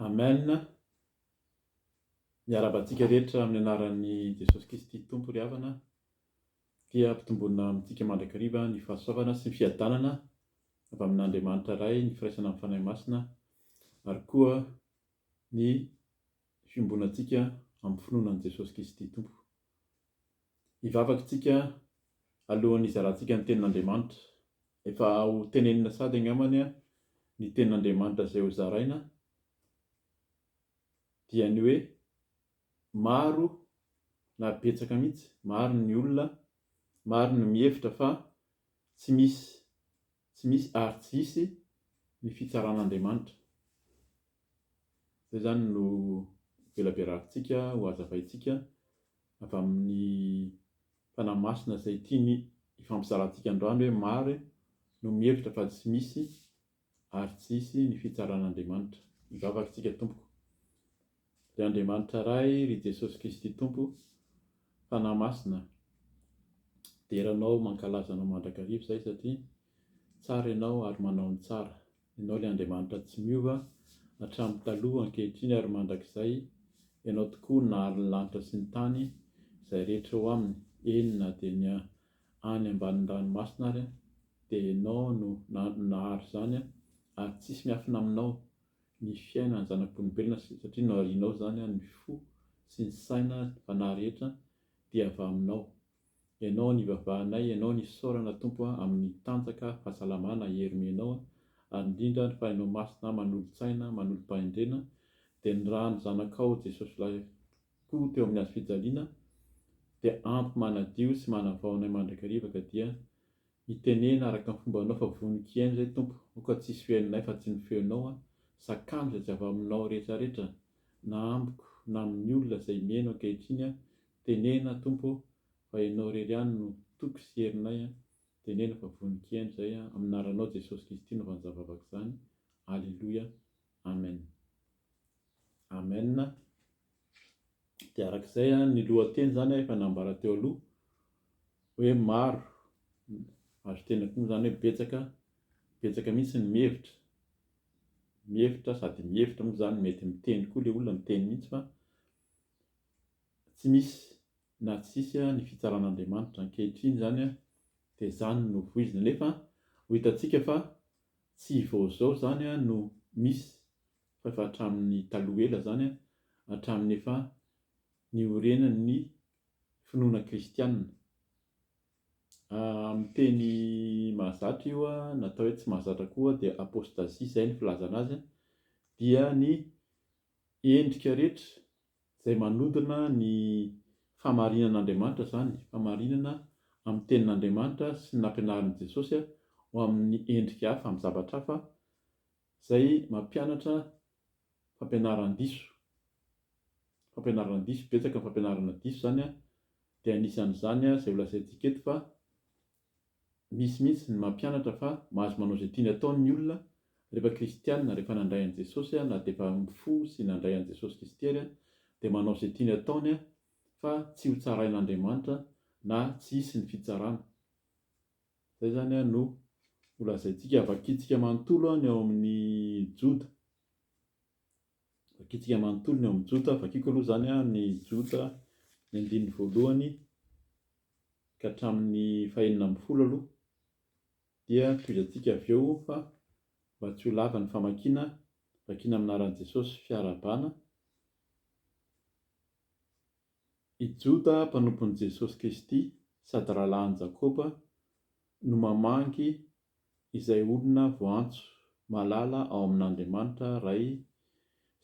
Amen, miarahaba antsika rehetra amin'ny anaran'i Jesosy Kristy Tompo ry havana, dia ampitomboina amintsika mandrakariva ny fahasoavana sy ny fiadanana avy amin'Andriamanitra Ray, ny firaisana amin'ny Fanahy Masina, ary koa ny fiombonantsika amin'ny finoana an'i Jesosy Kristy Tompo. Hivavaka isika alohan'ny hizarantsika ny tenin'Andriamanitra. Efa ho tenenina sady angambany ny tenin'Andriamanitra izay ho zaraina dia ny hoe maro na betsaka mihitsy, maro ny olona, maro ny mihevitra fa tsy misy Tsy misy ary tsy hisy ny fitsaran'Andriamanitra. Izay izany no velaberavintsika ho hazavaintsika avy amin'ny Fanahy Masina izay tiany hifampizarantsika androany hoe maro no mihevitra fa tsy misy ary tsy hisy ny fitsaran'Andriamanitra. Mivavaka isika tompoko. Ry Andriamanitra Ray, ry Jesosy Kristy Tompo, Fanahy Masina, dera Anao, mankalaza Anao mandrakariva izahay satria tsara Ianao ary manao ny tsara. Ianao ilay Andriamanitra tsy miova, hatramin'ny taloha, ankehitriny ary mandrakizay, Ianao tokoa no nahary ny lanitra sy ny tany, izay rehetra ao aminy, eny na dia ny any ambanin'ny ranomasina ary, dia Ianao no nahary izany ary tsisy miafina Aminao, ny fiainan'ny zanak'olombelona satria naharianao izany ny fo sy ny saina sy ny fanahy rehetra dia avy aminao. Ianao no ivavahanay, Ianao no isaorana Tompo amin'ny tanjaka, fahasalamana, hery omenao ary indrindra ny fanahinao masina manolo-tsaina, manolo-pahendrena dia ny ran'ny zanakao Jesosy Lahy koa teo amin'ny hazofijaliana dia ampy manadio sy manavao anay mandrakariva ka dia Mitenena araka ny fombanao fa vonon-kiaino izay Tompo o ka tsisy fihainonay fa tsy ny feonao a, zakano izay tsy avy aminao rehetra rehetra na amiko na amin'ny olona izay mihaino ankehitriny a, tenena Tompo o fa ianao irery ihany no toky sy herinay a, tenena fa vonon-kiaino izay a, amin'ny anaranao Jesosy Kristy no vanjavavaka izany, Aleloia, Amen. Amen. Dia araka izay an, ny lohateny izany an, efa nambara teo aloha hoe maro, azo tenenina koa moa izany hoe betsaka, betsaka mihitsy ny mihevitra, mihevitra sady mihevitra moa izany, mety miteny koa ilay olona, miteny mihitsy fa tsy misy na tsisy ny fitsaran'Andriamanitra. Ankehitriny izany an, dia izany no voizina. Nefa ho hitantsika fa tsy vao izao izany an no misy fa efa hatramin'ny taloha ela izany, hatramin'ny efa niorenan'ny finoana kristianina. Amin'ny teny mahazatra io, na atao hoe tsy mahazatra koa, dia apostasie izay ny filazana azy, dia ny endrika rehetra izay manodina ny fahamarinan'Andriamanitra izany, fahamarinana amin'ny tenin'Andriamanitra sy ny nampianarin'i Jesosy ho amin'ny endrika hafa, amin'ny zavatra hafa, Izay mampianatra fampianaran-diso, fampianarana diso, betsaka ny fampianarana diso izany an, dia anisan'izany izay ho lazaintsika eto fa misy mihitsy ny mampianatra fa mahazo manao izay tiany atao ny olona rehefa kristianina, rehefa nandray an'i Jesosy na dia efa fo sy nandray an'i Jesosy Kristy ary dia manao izay tiany ataony fa tsy ho tsarain'Andriamanitra na tsy hisy ny fitsarana. Izay izany no holazaintsika, vakintsika manontolo ny ao amin'ny Joda. Vakintsika manontolo ny ao amin'ny Joda. Vakiko aloha izany ny Joda, ny andininy voalohany ka hatramin'ny fahenina ambin'ny folo aloha, dia tohizantsika avy eo fa mba tsy ho lava ny famakiana, vakiana amin'ny anaran'i Jesosy, fiarahabana. I Joda mpanompon'i Jesosy Kristy sady rahalahin'i Jakoba no mamangy izay olona voantso malala ao amin'Andriamanitra Ray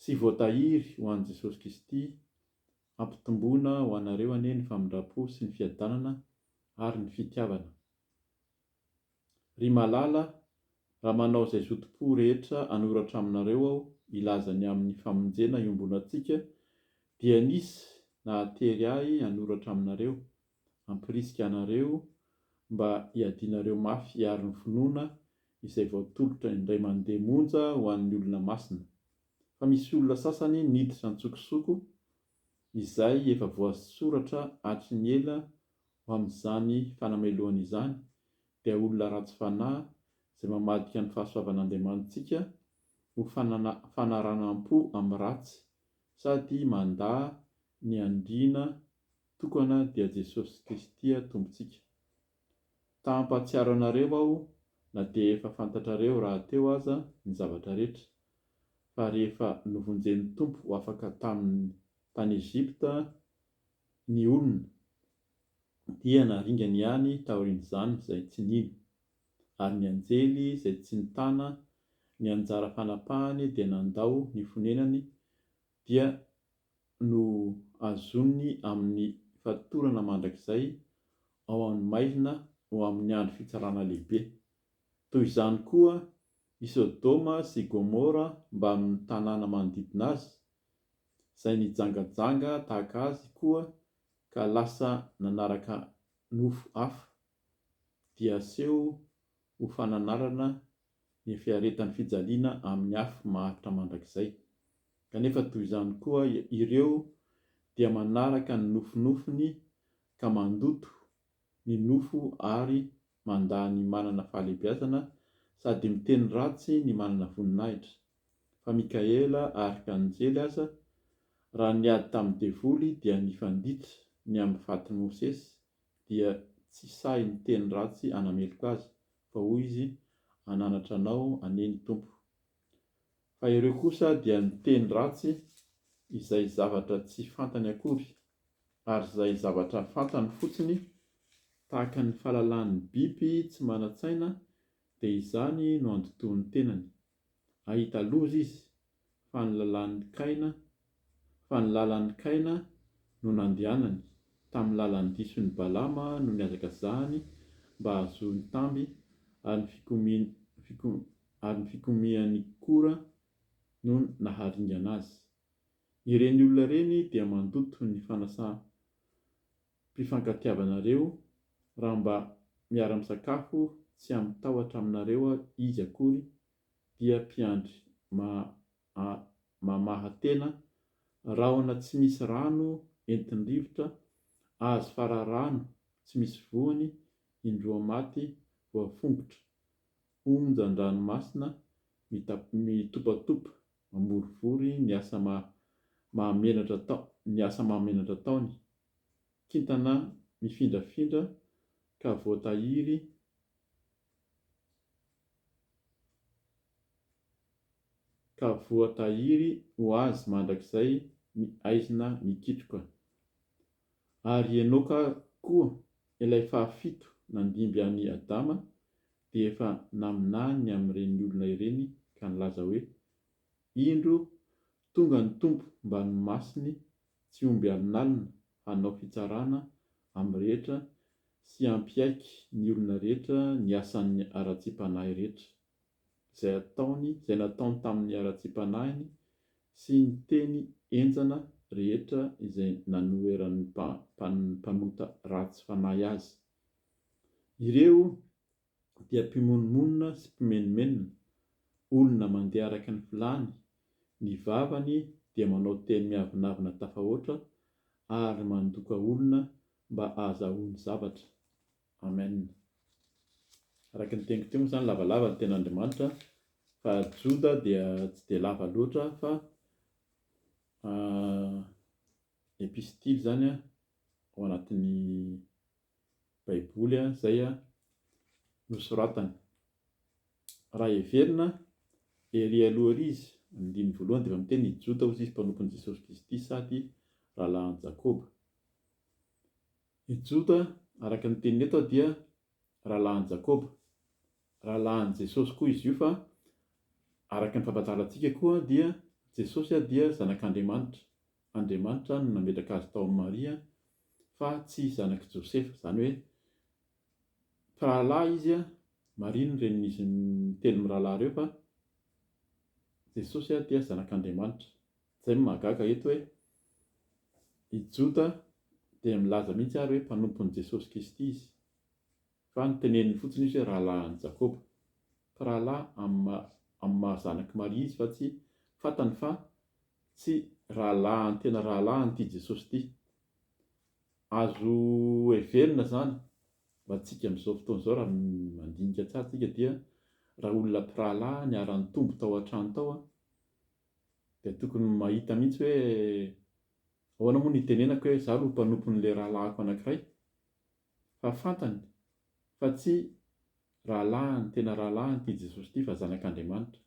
sy voatahiry ho an'i Jesosy Kristy, Hampitomboina ho anareo anie ny famindram-po sy ny fiadanana ary ny fitiavana. Ry malala, raha manao izay zotom-po rehetra hanoratra aminareo aho hilaza ny amin'ny famonjena iombonantsika, dia nisy nahatery ahy hanoratra aminareo, hampirisika anareo mba hiadianareo mafy hiaro ny finoana izay voatolotra indray mandeha monja ho an'ny olona masina. Fa misy olona sasany niditra an-tsokosoko izay efa voasoratra hatry ny ela ho amin'izany fanamelohana izany, dia olona ratsy fanahy izay mamadika ny fahasoavan'Andriamanitsika ho fanaranam-po amin'ny ratsy, sady mandà ny andriana tokana dia Jesosy Kristy Tompontsika. Ta hampahatsiaro anareo aho na dia efa fantatrareo rahateo aza ny zavatra rehetra, fa rehefa novonjen'ny Tompo ho afaka taminy tany Egypta ny olona, dia naringany ihany taorian'izany izay tsy nino, ary ny anjely izay tsy nitana ny anjara fanapahany dia nandao ny fonenany dia no azoniny amin'ny fatorana mandrakizay ao amin'ny maizina ho amin'ny andro fitsarana lehibe. Toy izany koa i Sodoma sy i Gomora mbamin'ny tanàna manodidina azy, izay nijangajanga tahaka azy koa ka lasa nanaraka nofo hafa, dia aseho ho fananarana ny fiaretan'ny fijaliana amin'ny afo maharitra mandrakizay. Kanefa toy izany koa ireo dia manaraka ny nofinofiny ka mandoto ny nofo ary mandà ny manana fahalebiazana sady miteny ratsy ny manana voninahitra, fa Mikaela Arkanjely aza, raha niady tamin'ny devoly dia nifanditra ny amin'ny fatin'i Mosesy, dia tsy sahy niteny ratsy hanameloka azy, fa hoy izy, Ananatra anao anie ny Tompo. Fa ireo kosa dia niteny ratsy izay zavatra tsy fantany akory, ary izay zavatra fantany fotsiny, tahaka ny fahalalahan'ny biby tsy manan-tsaina, dia izany no andotoan'ny tenany. Hahita loza izy, fa ny lalan'ny kaina, fa ny lalan'ny kaina no nandehanany, tamin'ny lalan'ny dison'i Balama no nihazakazahany mba hahazoany tamby, ary ny fikomiany, ary ny fikomian'i Kora no naharingana azy. Ireny olona ireny dia mandoto ny fanasa, mpifankatiavanareo raha mba miara misakafo tsy am tahotra aminareo izy akory dia mpiandry ma mamaha tena rahona tsy misy rano entin rivotra azy fararano tsy misy voany indroa maty voafongotra onjan dranomasina mita mitopatopa mamorivory ny asa ma mahamenatra ataony ny asa mahamenatra ataony kintana mifindrafindra ka voatahiry ka voatahiry ho azy mandrakizay ny aizina mikitroka. Ary i Enoka koa, ilay fahafito nandimby an'i Adama, dia efa naminany ny amin'ireny olona ireny ka nilaza hoe, Indro, tonga ny Tompo mba nomasiny Tsy omby alinalina hanao fitsarana amin'ny rehetra sy hampiaiky ny olona rehetra ny asan'ny haratsiam-panahy rehetra, izay ataony, izay nataony tamin'ny haratsiam-panahiny sy ny teny henjana rehetra izay nanoheran'ny mpanota ratsy fanahy azy. Ireo dia mpimonomonona sy mpimenomenona, olona mandeha araka ny filàny, ny vavany dia manao teny miavonavona tafahoatra ary mandoka olona mba ahazahoany zavatra. Amen. Araka ny teniko teo moa izany lavalava ny ten'Andriamanitra fa Joda dia tsy dia lava loatra fa epistily izany ao anatin'ny Baiboly izay nosoratany. Raha heverina, erỳ aloha erỳ izy, amin'ny andininy voalohany dia efa miteny hoe i Jota hoy izy mpanompon'i Jesosy Kristy sady rahalahin'i Jakoba. I Jota, araka ny teniny eto, dia rahalahin'i Jakoba. Rahalahin'i Jesosy koa izy io fa araka ny fampahazarantsika koa dia Jesosy dia zanak'Andriamanitra, Andriamanitra no nametraka azy tao amin'i Maria fa tsy zanak'i Josefa, izany hoe mpirahalahy izy, Maria no renin'izy telo mirahalahy ireo fa Jesosy dia zanak'Andriamanitra. Izay no mahagaga eto hoe i Jota dia milaza mihitsy ary hoe mpanompon'i Jesosy Kristy izy. Fa noteneniny fotsiny izy hoe rahalahin'i Jakoba. Fa rahalahy amin'ny amin'ny maha zanak'i Maria izy fa tsy fantany fa tsy rahalahiny tena rahalahiny ity Jesosy ity. Azo heverina izany ho antsika amin'izao fotoana izao raha mandinika tsara isika dia raha olona mpirahalahy niara-nitombo tao an-trano tao dia tokony mahita mihitsy hoe ahoana moa no hitenenako hoe izaho no mpanompon'ilay rahalahiko anankiray fa fantany fa tsy rahalahiny tena rahalahiny ity Jesosy ity fa zanak'Andriamanitra.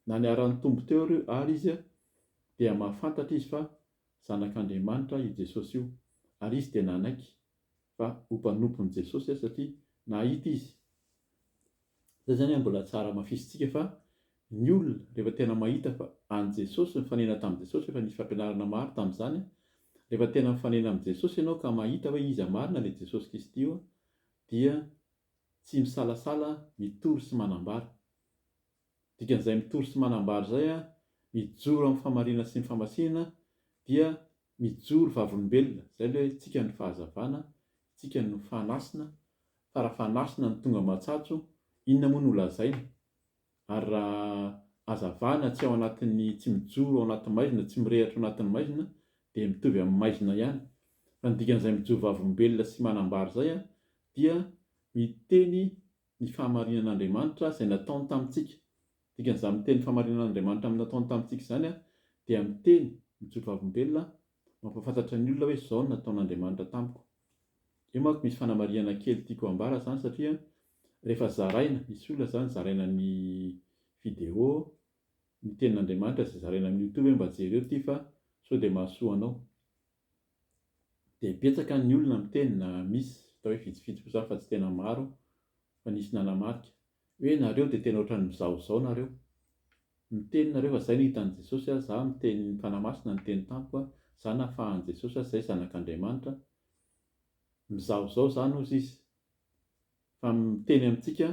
Na niharan'ny Tompo teo ary izy dia mahafantatra izy fa zanak'Andriamanitra io Jesosy io ary izy dia nanaiky fa ho mpanompon'i Jesosy satria nahita izy Zay zany an mbola tsara hamafisintsika fa ny olona rehefa tena mahita fa an'i Jesosy nifanena tamin'i Jesosy efa nisy fampianarana maro tamin'izany an, rehefa tena mifanena amin'i Jesosy ianao ka mahita hoe iza marina le Jesosy Kristy io an dia tsy misalasala mitory sy manambara. Dikan'izay mitory sy manambara izay an mijoro amin'ny famarinana sy ny famasinana dia mijoro vavolombelona, zay le hoe tsika ny fahazavana Tsika no fanasina fa raha fanasina ny tonga matsatso inona moa no lazaina? Ary raha azavana tsy ao anatin'ny tsy mijoro ao anaty maizina tsy mirehatra ao anatin'ny maizina dia mitovy amin'ny maizina ihany fa ny dikan'izay mijoro vavolombelona sy manambara izay dia miteny ny fahamarinan'Andriamanitra izay nataony tamintsika dikan'izany miteny ny fahamarinan'Andriamanitra nataony tamintsika izany dia miteny mijoro vavolombelona Mampahafantatra ny olona hoe izao no nataon'Andriamanitra tamiko. Io manko misy fanamarihana kely tiako hambara izany satria rehefa zaraina, misy olona izany zaraina ny video, ny tenin'Andriamanitra izay zaraina amin'ny youtube hoe mba jereo ity fa sao dia mahasoa anao. Dia betsaka ny olona miteny na misy, hita hoe vitsivitsy koa izany fa tsy tena maro aho fa nisy nanamarika. Hoe nareo dia tena ohatran'ny mizahozaho nareo. Miteny nareo fa zay no hitan'i Jesosy a, za miteny ny Fanahy Masina niteny tamiko a, za nafahan'i Jesosy a, zay zanak'Andriamanitra. Mizahozaho zany ozy izy. Fa miteny amintsika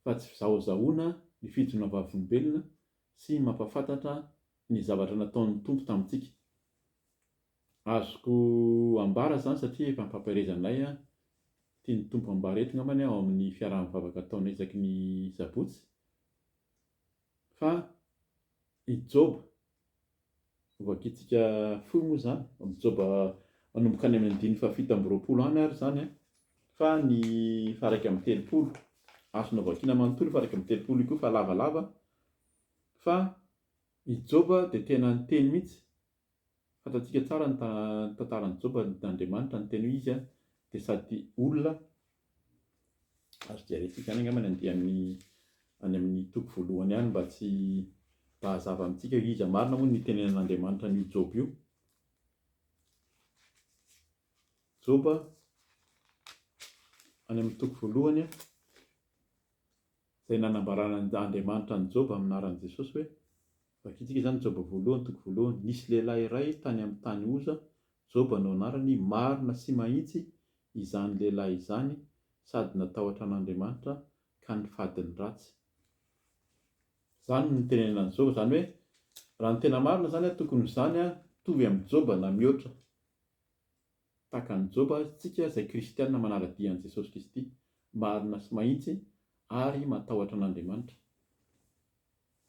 fa tsy fizahozahoana ny fijona vavolombelona sy mampafantatra ny zavatra nataon'ny Tompo tamintsika. Azoko ambara izany satria efa ampampaherezanay an, tian'ny Tompo hambara eto ngambany ao amin'ny fiaraha-mivavaka ataonay isaky ny sabotsy fa i Joba, hovakiantsika fohy moa izany, amin'ny Joba manomboka any amin'ny andininy fahafito amby roapolo any ary izany an, fa ny faharaika amby telopolo, azonao vakiana manontolo io faharaika amby telopolo io koa fa lavalava, fa i Joba dia tena niteny mihitsy Fantantsika tsara ny tantaran'i Joba nandriamanitra niteny hoe izy dia sady olona, azo jerentsika any angamba ny andiany any amin'ny toko voalohany any mba tsy mba hazava amintsika hoe iza marina moa no nitenenan'Andriamanitra an'io Joba io. Joba any amin'ny toko voalohany a. izay nanambaran'Andriamanitra an'i Joba amin'ny anaran'i Jesosy hoe, vakintsika izany Joba voalohany toko voalohany, nisy lehilahy iray tany amin'ny tany Oza, Joba no anarany, marina sy mahitsy izany lehilahy izany sady natahotra an'Andriamanitra ka nifady ny ratsy. Izany no nitenenan'i Joba, izany hoe, raha ny tena marina izany tokony ho izany, mitovy amin'i Joba na mihoatra. Tahaka an'i Joba, isika izay kristiana manara-dia an'i Jesosy Kristy, marina sy mahitsy ary matahotra an'Andriamanitra.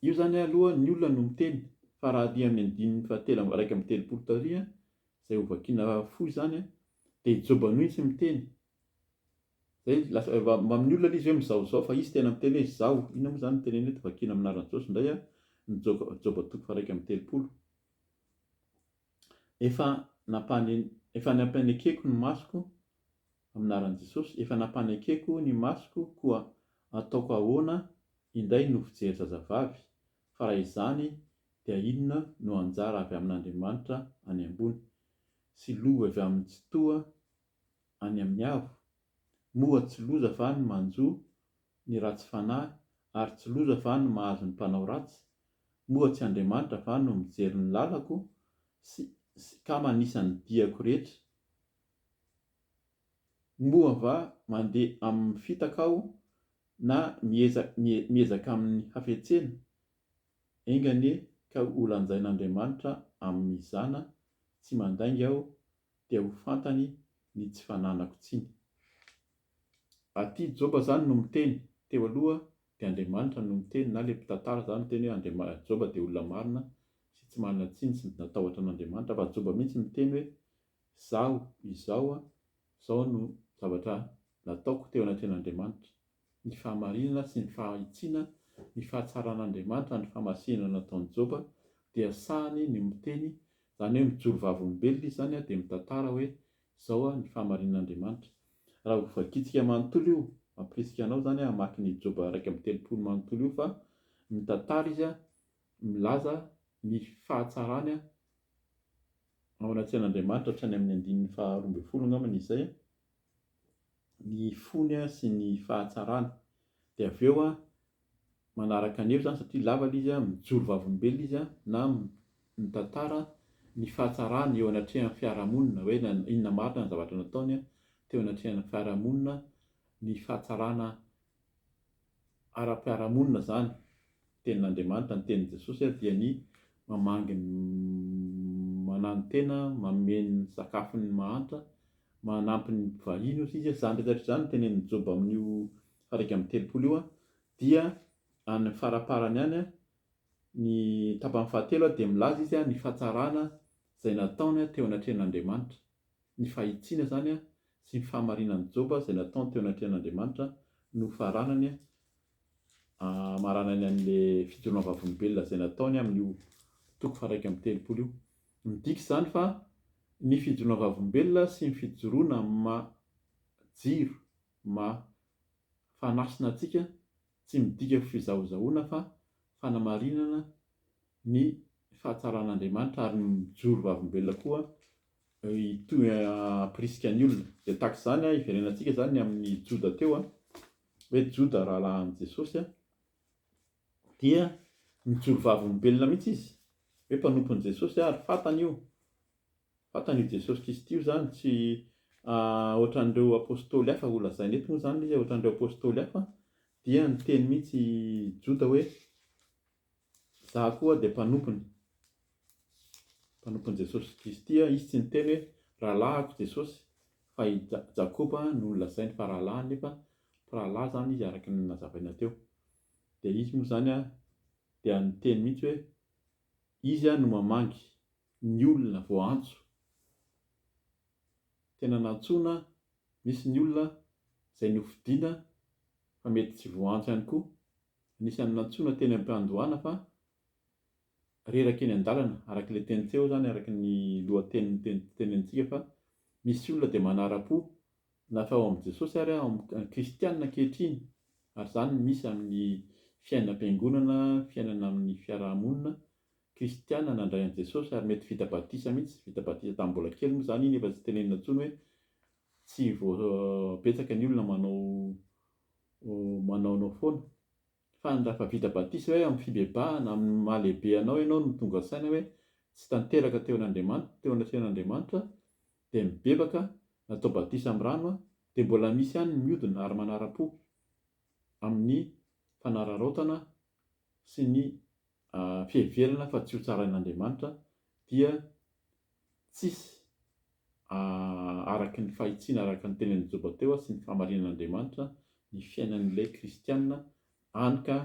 Io izany aloha ny olona no miteny, fa raha aty amin'ny andininy fahatelo amby iraika amby telopolo taorian izay ho vakiana fohy izany dia i Joba mihitsy miteny. Izay lasa efa amin'ny olona ilay izy hoe mizahozaho fa izy tena miteny hoe izaho. Inona moa izany ny teneniny eto, vakiana amin'ny anaran'i Jesosy indray ny Joba toko faha iraika amby telopolo. Efa Efa nampianekeko ny masoko Amin'ny anaran'i Jesosy Efa nampanekeko ny masoko Koa ataoko ahoana indray no fijery zazavavy Fa raha izany dia inona no anjara avy amin'Andriamanitra any ambony Sy lova avy amin'ny Tsitoha any amin'ny Avo Moa tsy loza fa ny manjo ny ratsy fanahy ary tsy loza va no mahazo ny mpanao ratsy? Moa tsy Andriamanitra va no mijery ny lalako sy sy ka manisa ny diako rehetra? Moa va mandeha amin'ny fitaka aho na mieza miezaka amin'ny hafetsena? Enga anie ka ho lanjain'Andriamanitra amin'ny zana tsy mandainga aho dia ho fantany ny tsy fananako tsiny. Aty Joba zany no miteny, teo aloha dia Andriamanitra no niteny na le mpitantara zany miteny hoe Andriama, Joba dia olona marina sy tsy manana tsiny sy natahotra an'Andriamanitra fa Joba mihitsy miteny hoe zaho izao a, zao no zavatra nataoko teo anatrehan'Andriamanitra. Ny fahamarinana sy ny fahitsiana ny fahatsaran'Andriamanitra ny famasinana nataon'i Joba dia sahany ny miteny zany hoe mijoro vavolombelona izy zany a dia mitantara hoe Izao aho ny fahamarinin'Andriamanitra. Raha ho vakitsika manontolo io, mampirisika anao izany aho hamaky ny Joba iraika amby telopolo manontolo io fa mitantara izy milaza ny fahatsarany ao anaty sain'Andriamanitra hatrany amin'ny andininy faharoa ambin'ny folo angamba ny izay. ny fony sy ny fahatsarany dia avy eo manaraka an'io zany satria lava ilay izy mijoro vavolombelona izy na mitantara ny fahatsarany eo anatrehan'ny fiarahamonina hoe inona marina ny zavatra nataony teo anatrehan'ny fiarahamonina ny fahatsarana ara-piarahamonina izany tenin'Andriamanitra, ny tenin'i Jesosy ary dia ny mamangy ny mananontena, manome ny sakafony ny mahantra, manampy ny mpivahiny ozy izy, izany rehetra izany tenenin'i Joba amin'io faraika amby telopolo io dia any faraparany any ny tapany fahatelo dia milaza izy ny fahatsarana izay nataony teo anatrehan'Andriamanitra. Ny fahitsiana izany sy ny fahamarinan'i Joba izay nataony teo anatrehan'Andriamanitra no faranany hamaranany an'ilay fijoroana vavolombelona izay nataony amin'io toko faha-iraika amby telopolo io. Midika izany fa ny fijoroana vavolombelona sy ny fijoroana maha jiro, maha fanasina antsika, Tsy midika fizahozahoana fa fanamarinana ny fahatsaran'Andriamanitra ary ny mijoro vavolombelona koa hitohy hampirisika ny olona. Dia tahaka izany hiverenantsika izany ny amin'ny Joda teo hoe Joda rahalahin'i Jesosy dia mijoro vavolombelona mihitsy izy hoe mpanompon'i Jesosy ary fantany io Vatan' i Jesosy Kristy io izany, tsy hoatran' ireo apôstôly hafa ho lazaina eto moa izany ilay izy hoe hoatran' ireo apôstôly hafa dia niteny mihitsy i Joda hoe izaho koa dia mpanompony, mpanompon'i Jesosy Kristy aho, izy tsy niteny hoe rahalahiko Jesosy fa i Ja- Jakoba no nolazainy fa rahalahiny nefa mpirahalahy izany izy araka ny nazavaina teo, dia izy moa izany dia niteny mihitsy hoe izy no mamangy ny olona vao antso, tena nantsoina, misy ny olona izay nofidina fa mety tsy voantso ihany koa, anisan'ny nantsoina teny am-piandohana fa reraka eny an-dalana, araka ilay teny teo izany, araka ny lohateniny teny tenenintsika fa misy olona dia manara-po na fa ao amin'i Jesosy ary ao amin'ny kristianina ankehitriny ary izany misy amin'ny fiainam-piangonana, fiainana amin'ny fiaraha-monina kristiana nandray an'i Jesosy ary mety vita batisa mihitsy, vita batisa tamin'ny mbola kely moa izany iny efa tsy tenenina intsony hoe tsy vao betsaka ny olona manao manaonao foana. Fa ny raha efa vita batisa hoe amin'ny fibebahana, amin'ny maha lehibe anao ianao no tonga saina hoe tsy tanteraka teo an'Andriamanitra, teo anatrehan'Andriamanitra dia mibebaka, natao batisa amin'ny rano dia mbola misy ihany ny miodina ary manara-po amin'ny fanararaotana sy ny fiheverana fa tsy ho tsarain'Andriamanitra dia tsisy araky ny fahitsiana araka ny tenin'i Joba teo sy ny fahamarinan'Andriamanitra ny fiainan'ilay kristiana any ka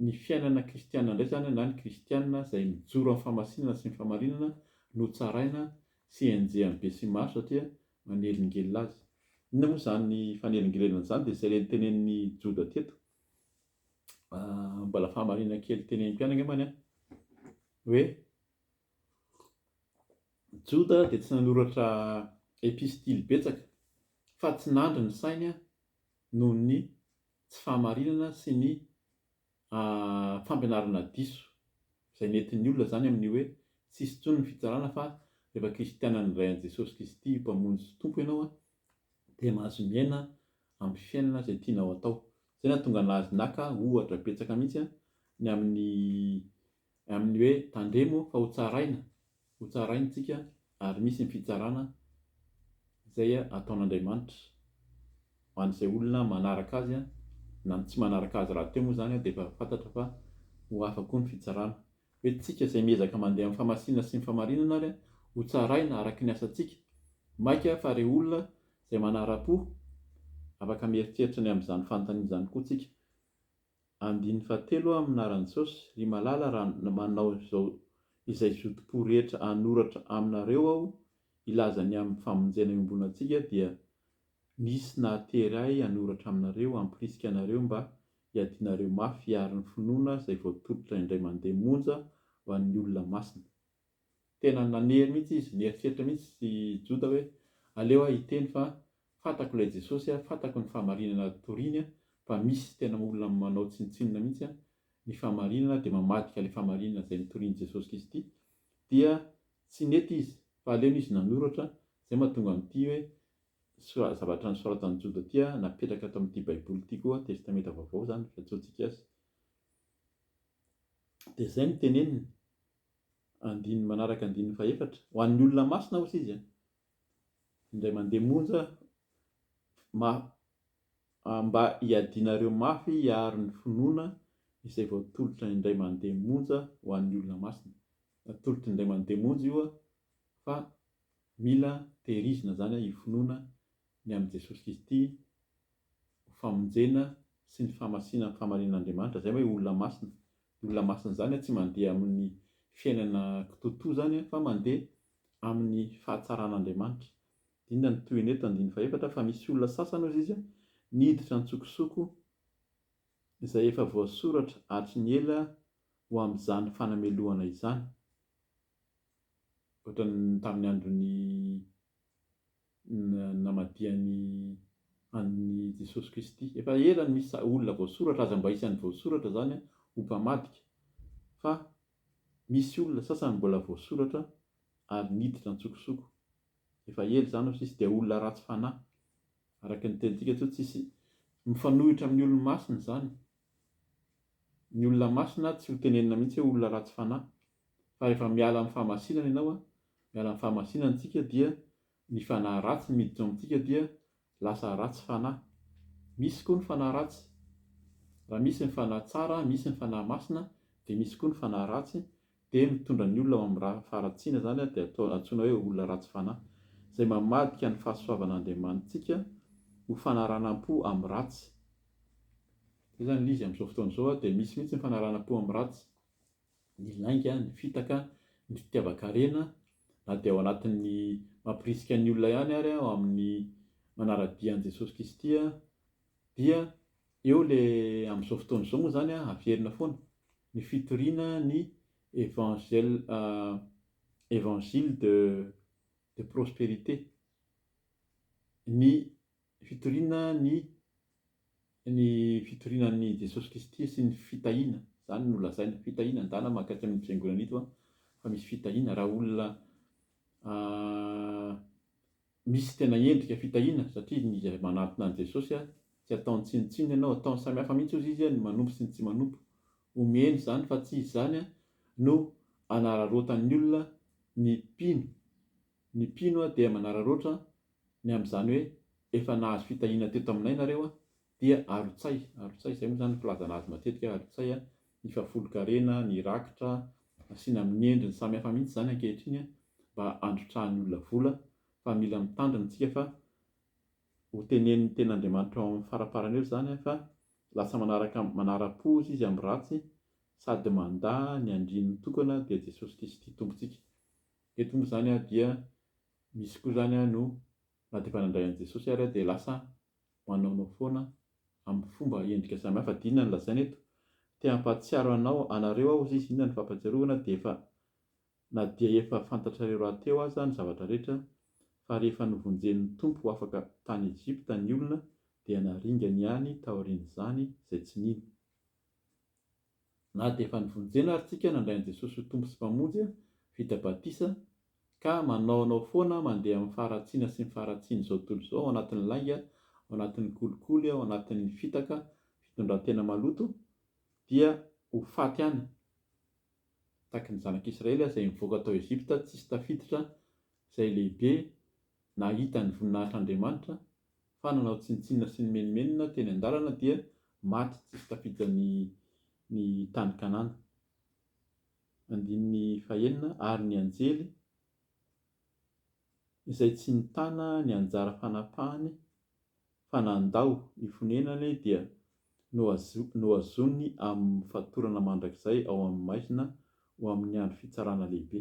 ny fiainana kristiana indray izany na ny kristiana izay mijoro amin'ny famasinana sy ny fahamarinana no tsaraina sy enjehan'ny besimaro satria manelingelina azy. Inona moa izany fanelingelana izany dia izay tenen'i Joda teto. Ah, mbola fahamarinana kely tenenim-ko ihany angambany an, hoe Joda dia tsy nanoratra epistily betsaka fa tsy nandry ny sainy an, noho ny tsy fahamarinana sy ny ah, fampianarana diso, izay nentin'ny olona izany amin'ny hoe tsisy intsony ny fitsarana fa rehefa kristianan'ny Ray an'i Jesosy Kristy ho Mpamonjy sy Tompo ianao an, dia mahazo miaina amin'ny fiainana izay tianao atao. Izay nahatonga an'azy naka ohatra betsaka mihitsy ny amin'ny amin'ny hoe tandremo fa ho tsaraina, ho tsaraintsika ary misy ny fitsarana izay ataon'Andriamanitra ho an'izay olona manaraka azy na ny tsy manaraka azy rahateo moa izany dia efa fantatra fa ho hafa koa ny fitsarana. Entintsika izay miezaka mandeha amin'ny famasinana sy ny famarinana ary ho tsaraina araka ny asantsika. Maika fa re olona izay manara-po, afaka mieritreritra ny amin'izany fanontaniana izany koa tsika. Andininy fahatelo amin'ny anaran'i Jesosy, Ry Malala raha manao izao izay zotom-po rehetra hanoratra aminareo aho hilaza ny amin'ny famonjena iombonantsika dia nisy nahatery ahy hanoratra aminareo hampirisika anareo mba Iadianareo mafy hiaro ny finoana izay voatolotra indray mandeha monja ho an'ny olona masina. Tena nanery mihitsy izy, nieritreritra mihitsy i Joda hoe, Aleo aho hiteny fa fantako ilay Jesosy, fantako ny fahamarinana toriany fa misy tena olona manao tsinontsinona mihitsy ny fahamarinana dia mamadika ilay fahamarinana izay notorian'i Jesosy Kristy. Dia tsy nety izy fa aleony izy nanoratra izay mahatonga an'ity hoe Soa zavatra nosoratan'i Joda ity an, napetraka ato amin'ity baiboly ity koa, testamenta vaovao izany, fiantsoantsika azy. Dia izay no teneniny, andininy manaraka andininy fahefatra, ho an'ny olona masina hozy izy an, indray mandeha monja ma, ah, mba hiadianareo mafy hiaro ny finoana izay voatolotra indray mandeha monja ho an'ny olona masina. Natolotr'indray mandeha monja io an, fa Mila tehirizina izany io finoana ny amin'i Jesosy Kristy ho famonjena sy ny fahamasinana ny fahamarinan'Andriamanitra, izay hoe olona masina. Ny olona masina izany tsy mandeha amin'ny fiainana kitoatoa izany fa mandeha amin'ny fahatsaran'Andriamanitra. Inona no tohiny eto? Andininy fahefatra, Fa misy olona sasany, hoy Izy, niditra an-tsokosoko, izay efa voasoratra hatry ny ela ho amin'izany fanamelohana izany. ohatran'ny tamin'ny andron'ny namadihany an'i Jesosy Kristy. Efa ela no misy olona voasoratra, aza mba isan'ny voasoratra izany aho ho mpamadika, fa misy olona sasany mbola voasoratra ary niditra an-tsokosoko. Efa ela izany no tsisy, dia olona ratsy fanahy, araka ny tenintsika eto, tsisy mifanohitra amin'ny olona masina izany. Ny olona masina tsy ho tenenina mihitsy hoe olona ratsy fanahy, fa rehefa miala amin'ny fahamasinana ianao an, miala amin'ny fahamasinana tsika dia ny fanahy ratsy miditra ao amintsika dia lasa ratsy fanahy. Misy koa ny fanahy ratsy. Raha misy ny fanahy tsara, misy ny fanahy masina, dia misy koa ny fanahy ratsy, dia mitondra ny olona ao amin'ny raha faharatsiana izany dia atao antsoina hoe olona ratsy fanahy. Izay mamadika ny fahasoavan'Andriamanitsika ho fanaranam-po amin'ny ratsy. Izay izany ilay izy amin'izao fotoana izao dia misy mihitsy ny fanaranam-po amin'ny ratsy. ny lainga, ny fitaka, ny fitiavan-karena na dia ao anatin'ny mampirisika ny olona ihany ary aho amin'ny manara-dia an'i Jesosy Kristy dia eo le amin'izao fotoana izao moa izany an averina foana ny fitoriana ny evangel evangile de de prosperité ny Ny fitoriana ny ny fitoriana an'i Jesosy Kristy sy ny fitahiana, izany no lazaina, fitahiana, ndana mahakasika amin'ito fiangonana ito an, fa misy fitahiana raha olona misy tena endrika fitahiana satria ny izay manantona an'i Jesosy an, tsy ataony tsinontsinona ianao, ataony samy hafa mihitsy ozy izy an, ny manompo sy ny tsy manompo, omeny izany fa tsy izany an no anararaotan'ny olona ny mpino. Ny mpino dia manararaotra ny amin'izany hoe efa nahazo fitahiana teto aminay nareo dia arotsay, arotsay, izay moa izany no filazana azy matetika hoe arotsay, ny fahafolonkarena, ny rakitra, asiana amin'ny endriny samihafa mihitsy izany ankehitriny mba handrotrahan'ny olona vola fa mila mitandrina isika fa ho tenenin'ny tenin'Andriamanitra ao amin'ny faraparany eo izany fa lasa manaraka manara-po izy amin'ny ratsy sady mandà ny andriany mitokana dia Jesosy Kristy Tompontsika. Dia tonga izany aho dia misy koa izany aho no na dia efa nandray an'i Jesosy ary aho dia lasa manaonao foana amin'ny fomba endrika samihafa dia inona no lazaina eto? te hampahatsiaro anao anareo aho hozy izy inona no fampatsiarovana dia efa na dia efa fantatrareo rahateo aza ny zavatra rehetra fa rehefa novonjen'ny Tompo ho afaka tany Egypta ny olona dia naringany ihany taorian'izany izay tsy nino Na dia efa nivonjena ary tsika nandray an'i Jesosy ho Tompo sy Mpamonjy, vita batisa, ka manaonao foana mandeha amin'ny faharatsiana sy ny faharatsian'izao tontolo izao ao anatin'ny lainga, ao anatin'ny kolikoly, ao anatin'ny fitaka, fitondran-tena maloto, dia ho faty any. Tahaka ny Zanaka Israely izay nivoaka tao Egypta tsisy tafiditra, izay lehibe nahita ny voninahitr'Andriamanitra, fa nanao tsinontsinona sy nimenomenona teny an-dalana dia maty tsisy tafidiny ny tany Kanana. Andininy fahenina Ary ny anjely izay tsy nitana ny anjara fanapahany fa nandao ny fonenany dia nohazony amin'ny fatorana mandrakizay ao amin'ny maizina ho amin'ny andro fitsarana lehibe.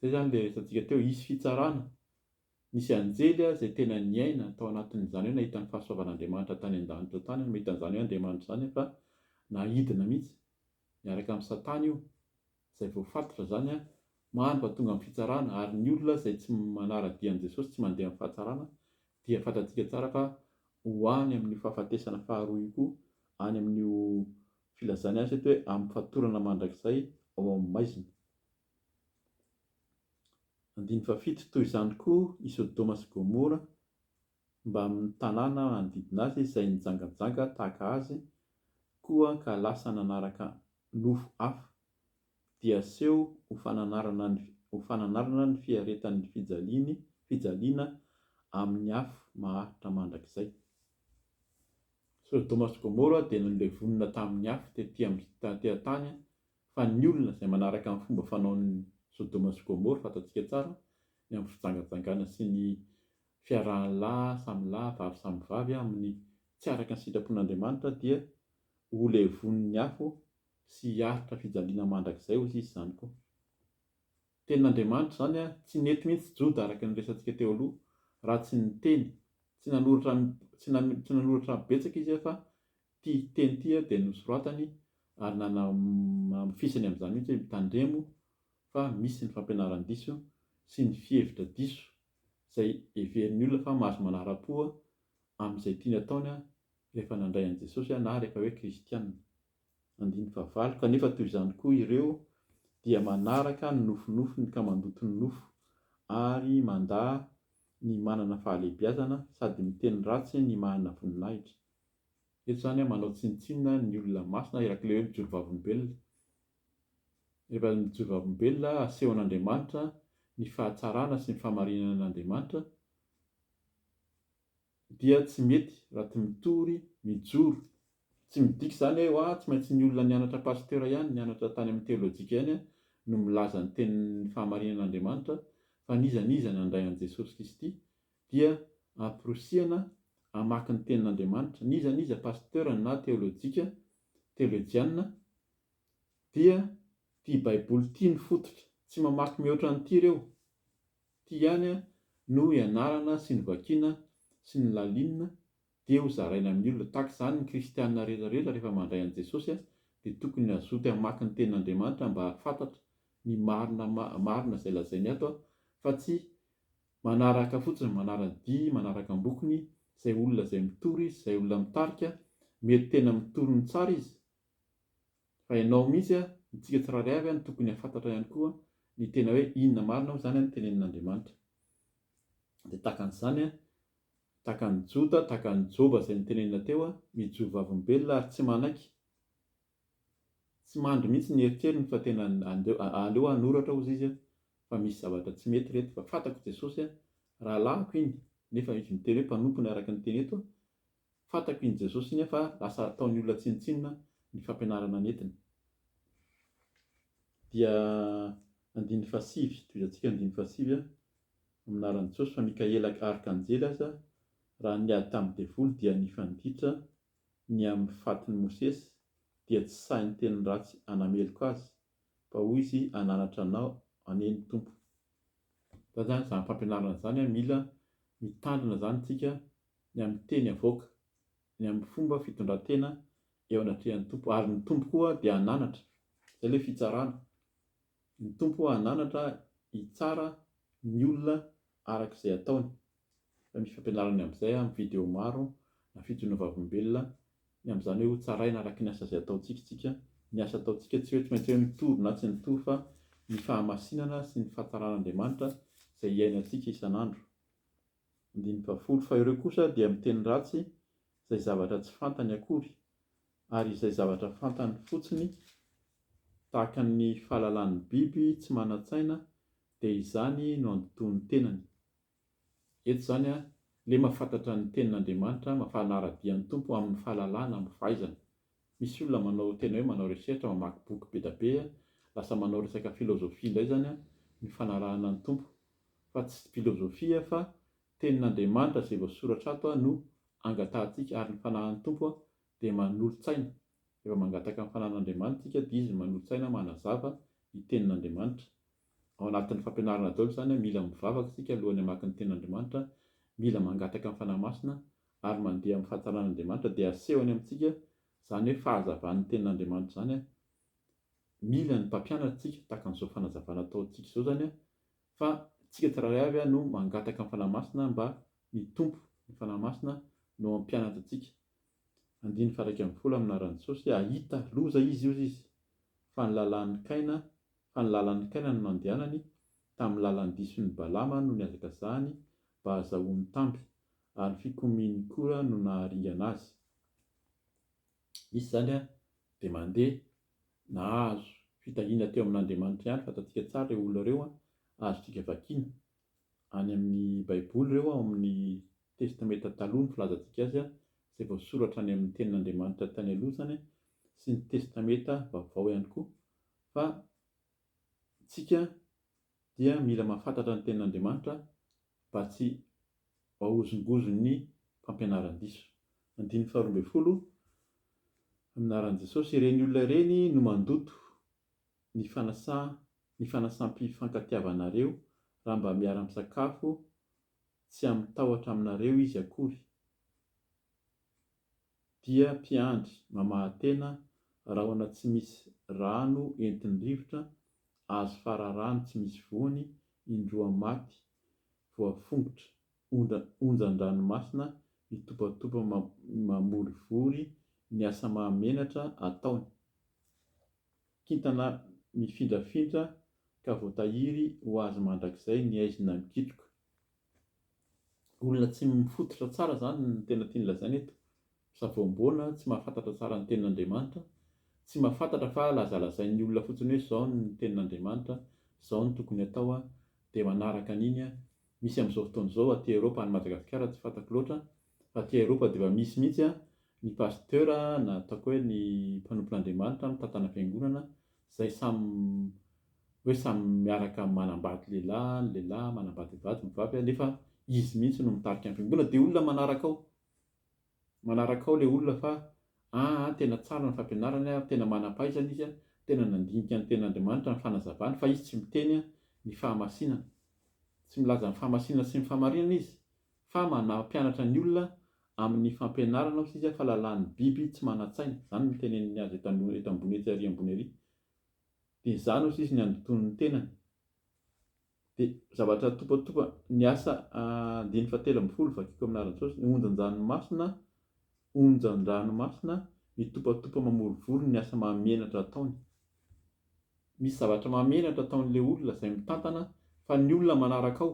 Izay izany ilay resatsika teo, hisy fitsarana Nisy anjely aho izay tena niaina tao anatin'izany hoe nahita ny fahasoavan'Andriamanitra tany an-danitra tany no mahita an'izany hoe Andriamanitra izany fa nahidina mihitsy niaraka amin'i Satana io izay voafatotra izany an, maro vao tonga amin'ny fitsarana ary ny olona izay tsy manara-dia an'i Jesosy tsy mandeha amin'ny fahatsarana dia fantatsika tsara fa ho any amin'io fahafatesana faharoa io koa any amin'io filazany azy eto hoe amin'ny fatorana mandrakizay ao amin'ny maizina. Andininy fahafito, Toy izany koa i Sodoma sy Gomora mbamin'ny tanàna manodidina azy izay nijangajanga tahaka azy koa ka lasa nanaraka nofo hafa, dia aseho ho fananarana ny ho fananarana ny fiaretan'ny fijaliany fijaliana amin'ny afo maharitra mandrakizay. Sodoma sy Gomora dia nolevonina tamin'ny afo tety amin'ny tany Fa ny olona izay manaraka ny fomba fanaon'i Sodoma sy Gomora, fantatsika tsara, ny amin'ny fijangajangana sy ny fiarahan'ny lahy samy lahy, vavy samy vavy amin'ny tsy araka ny sitrapon'Andriamanitra dia ho levonin'ny afo sy hiaritra fijaliana mandrakizay hozy izy izany koa. Tenin'Andriamanitra izany ary tsy nety mihitsy Joda araka ny resantsika teo aloha raha tsy niteny, tsy nanoratra tsy nanoratra betsaka izy fa Ity teny ity dia nosoratany ary nanamafisany amin'izany mihitsy hoe mitandremo fa misy ny fampianaran-diso sy ny fihevitra diso izay heverin'ny olona fa mahazo manara-po amin'izay tiany ataony rehefa nandray an'i Jesosy na rehefa hoe kristiana. Andininy fahavalo, Kanefa toy izany koa ireo dia manaraka ny nofinofiny ka mandoto ny nofo ary mandà ny manana fahalehibiazana sady miteny ratsy ny manana voninahitra. Eto izany manao tsinontsinona ny olona masina Irak'ilay hoe mijoro vavolombelona. Rehefa mijoro vavolombelona asehon'Andriamanitra ny fahatsarana sy ny fahamarinan'Andriamanitra dia tsy mety raha tsy mitory mijoro. Tsy midika izany hoe ah tsy maintsy ny olona nianatra pasteur ihany, nianatra tany amin'ny teolojika ihany no milaza ny tenin'ny fahamarinan'Andriamanitra fa n'iza n'iza nandray an'i Jesosy Kristy, dia amporisihana hamaky ny tenin'Andriamanitra, n'iza n'iza pasteur na teolojika, teolojianina, dia ity baiboly ity no fototra, tsy mamaky mihoatra an'ity ireo, ity ihany no ianarana sy novakiana sy nolalinina dia ho zaraina amin'ny olona, tahaka izany ny kristiana rehetra rehetra rehefa mandray an'i Jesosy dia tokony hazoto hamaky ny tenin'Andriamanitra mba hahafantatra ny marina marina izay lazainy ato fa tsy Manaraka fotsiny, manara-dia, manaraka am-bokony izay olona izay mitory izy, izay olona mitarika, mety tena mitory ny tsara izy, fa ianao mihitsy, antsika tsirairay avy no tokony hahafantatra ihany koa ny tena hoe inona marina moa izany no tenenin'Andriamanitra. Dia tahaka an'izany, tahaka an'i Jota, tahaka an'i Joba izay notenenina teo, mijoro vavolombelona ary tsy manaiky. Tsy mandry mihitsy ny eritreriny fa tena aleo hanoratra hozy izy fa misy zavatra tsy mety reto fa fantako Jesosy a! rahalahiko iny nefa izy miteny hoe mpanompony araka ny teny eto a! fantako iny Jesosy iny a! fa lasa ataony olona tsinontsinona ny fampianarana nentiny. Dia andininy fahasivy, tohizantsika andininy fahasivy a! amin'ny anaran'i Jesosy fa Mikaela arkanjely aza raha niady tamin'ny devoly dia nifanditra ny amin'ny fatin'i Mosesy, dia tsy sahy niteny ratsy hanameloka azy, fa hoy izy, Hananatra anao anie ny Tompo. Izany izany, izany fampianarana izany, mila mitandrina izany isika ny amin'ny teny avoaka, ny amin'ny fomba fitondran-tena eo anatrehan'ny Tompo, ary ny Tompo koa dia hananatra. Izay ilay fitsarana. Ny Tompo hananatra hitsara ny olona araka izay ataony. Raha misy fampianarana ny amin'izay amin'ny video maro na fijoroana vavolombelona ny amin'izany hoe ho tsaraina araka ny asa izay ataontsika isika, ny asa ataontsika tsy hoe tsy maintsy hoe mitory na tsy mitory fa ny fahamasinana sy ny fahatsaran'Andriamanitra izay iainantsika isan'andro. Andininy fahafolo, fa ireo kosa dia miteny ratsy izay zavatra tsy fantany akory, ary izay zavatra fantany fotsiny tahaka ny fahalalan'ny biby tsy manan-tsaina dia izany no andotoan'ny tenany. Eto izany a, le mafantatra ny tenin' Andriamanitra, mafana ara-dia ny Tompo amin' ny fahalalana, amin' ny fahaizana. Misy olona manao tena hoe manao recherche, mamaky boky be da be a, lasa manao resaka filozofia indray izany a, ny fanarahana ny Tompo. Fa tsy pilozofia fa tenin' Andriamanitra izay voasoratra ato a no angatahantsika ary ny fanahin' ny Tompo a dia manolo-tsaina. Rehefa mangataka ny fanahin' Andriamanitra isika dia Izy no manolo-tsaina manazava ny tenin' Andriamanitra. Ao anatin'ny fampianarana daholo izany hoe mila mivavaka isika alohan'ny hamaky ny Tenin'Andriamanitra, mila mangataka ny Fanahy Masina ary mandeha amin'ny fahatsaran'Andriamanitra dia asehony amintsika izany hoe fahazavan'ny Tenin'Andriamanitra izany. Mila ny mpampianatra isika tahaka an'izao fanazavana ataontsika izao izany fa isika tsirairay avy no mangataka ny Fanahy Masina mba ny Tompo, ny Fanahy Masina no hampianatra antsika. Andininy faha iraika ambin'ny folo amin'ny anaran'i Jesosy, hahita loza izy hozy izy fa ny lalàn'i Kaina fa ny lalan'i Kaina no nandehanany, tamin'ny lalan'ny dison'i Balama no nihazakazahany mba hazahoany tamby, ary ny fikomian'i Kora no naharingana azy. Izy izany dia mandeha, nahazo fitahiana teo amin'Andriamanitra ihany, fantantsika tsara ireo olona ireo, azontsika vakiana any amin'ny Baiboly ireo ao amin'ny Testamenta Taloha ny filazantsika azy, izay voasoratra any amin'ny Tenin'Andriamanitra tany aloha izany sy ny Testamenta Vaovao ihany koa, fa tsika dia mila mahafantatra ny tenin'Andriamanitra mba tsy hahozongozon'ny fampianaran-diso. Andininy faharoa ambin'ny folo, Amin'ny anaran'i Jesosy, ireny olona ireny no mandoto ny fanasa ny fanasam-pifankatiavanareo raha mba miara-misakafo tsy amin'ny tahotra aminareo izy akory. dia mpiandry mamaha-tena rahona tsy misy rano entin'ny rivotra azo fararano tsy misy voany indroa maty voafongotra onjan-dranomasina mitopatopa mamorivory ny asa mahamenatra ataony kintana mifindrafindra ka voatahiry ho azy mandrakizay ny aizina mikitroka olona tsy mifototra tsara izany no tena tiany lazaina eto, savoamboana, tsy mahafantatra tsara ny tenin'Andriamanitra, tsy mahafantatra fa lazalazain'ny olona fotsiny hoe izao ny tenin'Andriamanitra, izao no tokony hatao, dia manaraka an'iny, misy amin'izao fotoana izao aty Europe, any Madagasikara tsy fantako loatra, Fa aty Aeropa dia efa misy mihitsy an, ny pasteur na ataoko hoe ny mpanompon'Andriamanitra mitantana fiangonana, izay samy hoe samy miaraka manambady lehilahy, ny lehilahy manambady vady, ny vavy, nefa izy mihitsy no mitarika ny fiangonana, dia olona manaraka ao, manaraka ao ilay olona fa ah an tena tsara ny fampianarany an, tena manam-pahaizana izy an, tena nandinika ny tenin'Andriamanitra, ny fanazavany, fa izy tsy miteny ny fahamasinana, tsy milaza ny fahamasinana sy ny fahamarinana izy, Fa manampianatra ny olona amin'ny fampianarana hoy sisa fa lalàn'ny biby tsy manan-tsaina, izany no niteneniny azy eto an, eto ambony etsy arỳ ambony arỳ. Dia izany hoy sisa ny handotoany ny tenany. Dia zavatra topatopa, ny asa andininy fahatelo ambin'ny folo, vakiko amin'ny anaran'i Jesosy, ny onjan-dranomasina, onjan-dranomasina mitopatopa mamorivory ny asa mahamenatra ataony. Misy zavatra mahamenatra ataon'ilay olona izay mitantana fa ny olona manaraka ao,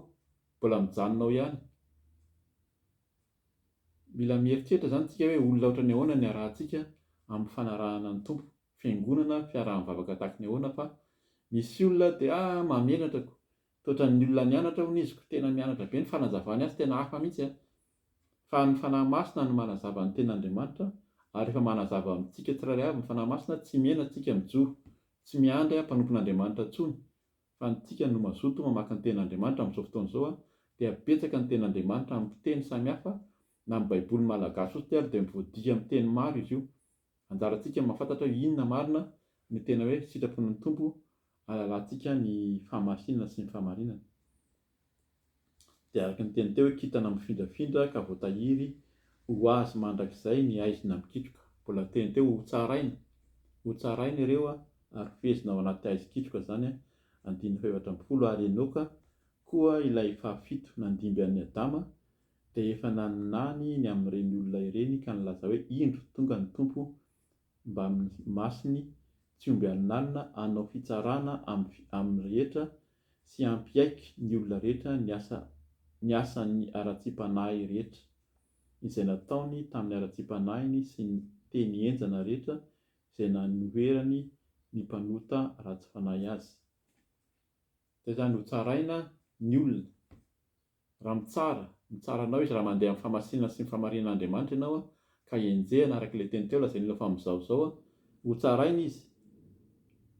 Mbola mijanona ao ihany. Mila mieritreritra izany isika hoe olona ohatran'ny ahoana ny harahantsika amin'ny fanarahana ny Tompo. Fiangonana, fiaraha-mivavaka takin'ny ahoana fa misy olona dia ah mahamenatra ko. Tsy ohatran'ny olona nianatra hono izy ko, tena mianatra be ny fanazavany azy tena hafa mihitsy an. Fa ny Fanahy Masina no manazava ny tenin'Andriamanitra ary rehefa manazava amintsika tsirairay avy ny Fanahy Masina tsy mihena tsika mijoro, tsy miandry mpanompon'Andriamanitra intsony Fa ny tsika no mazoto mamaka ny tenin'Andriamanitra amin'izao fotoana izao dia betsaka ny tenin'Andriamanitra amin'ny fiteny samihafa na amin'ny baiboly malagasy fotsiny ary dia voadihy amin'ny teny maro izy io. Anjarantsika mahafantatra hoe inona marina ny tena hoe sitrapon'ny Tompo halalantsika ny fahamasinana sy ny fahamarinana. Dia araka ny teny teo hoe kintana mifindrafindra ka voatahiry ho azy mandrakizay ny haizina mikitroka. Mbola teny teo hoe hotsaraina, hotsaraina ireo ary hofehezina ao anaty haizin-kitroka izany, andininy fahefatra ambin'ny folo, ary Enoka koa ilay fahafito nandimby an'i Adama dia efa naninany ny amin'ireny olona ireny ka nilaza hoe, Indro, tonga ny Tompo mbamin'ny masony tsy omby haninanina hanao fitsarana amin'ny rehetra sy hampiaiky ny olona rehetra ny asa ny asan'ny haratsiam-panahy rehetra izay nataony tamin'ny haratsiam-panahiny sy ny teny henjana rehetra izay nanoherany ny mpanota ratsy fanahy azy. Izay izany hotsaraina ny olona. Raha mitsara, mitsara anao izy raha mandeha amin'ny famasinana sy ny famarihin'Andriamanitra ianao ka enjehina araka ilay teny teo lazain'Ilo fa mizaozao, ho tsaraina izy,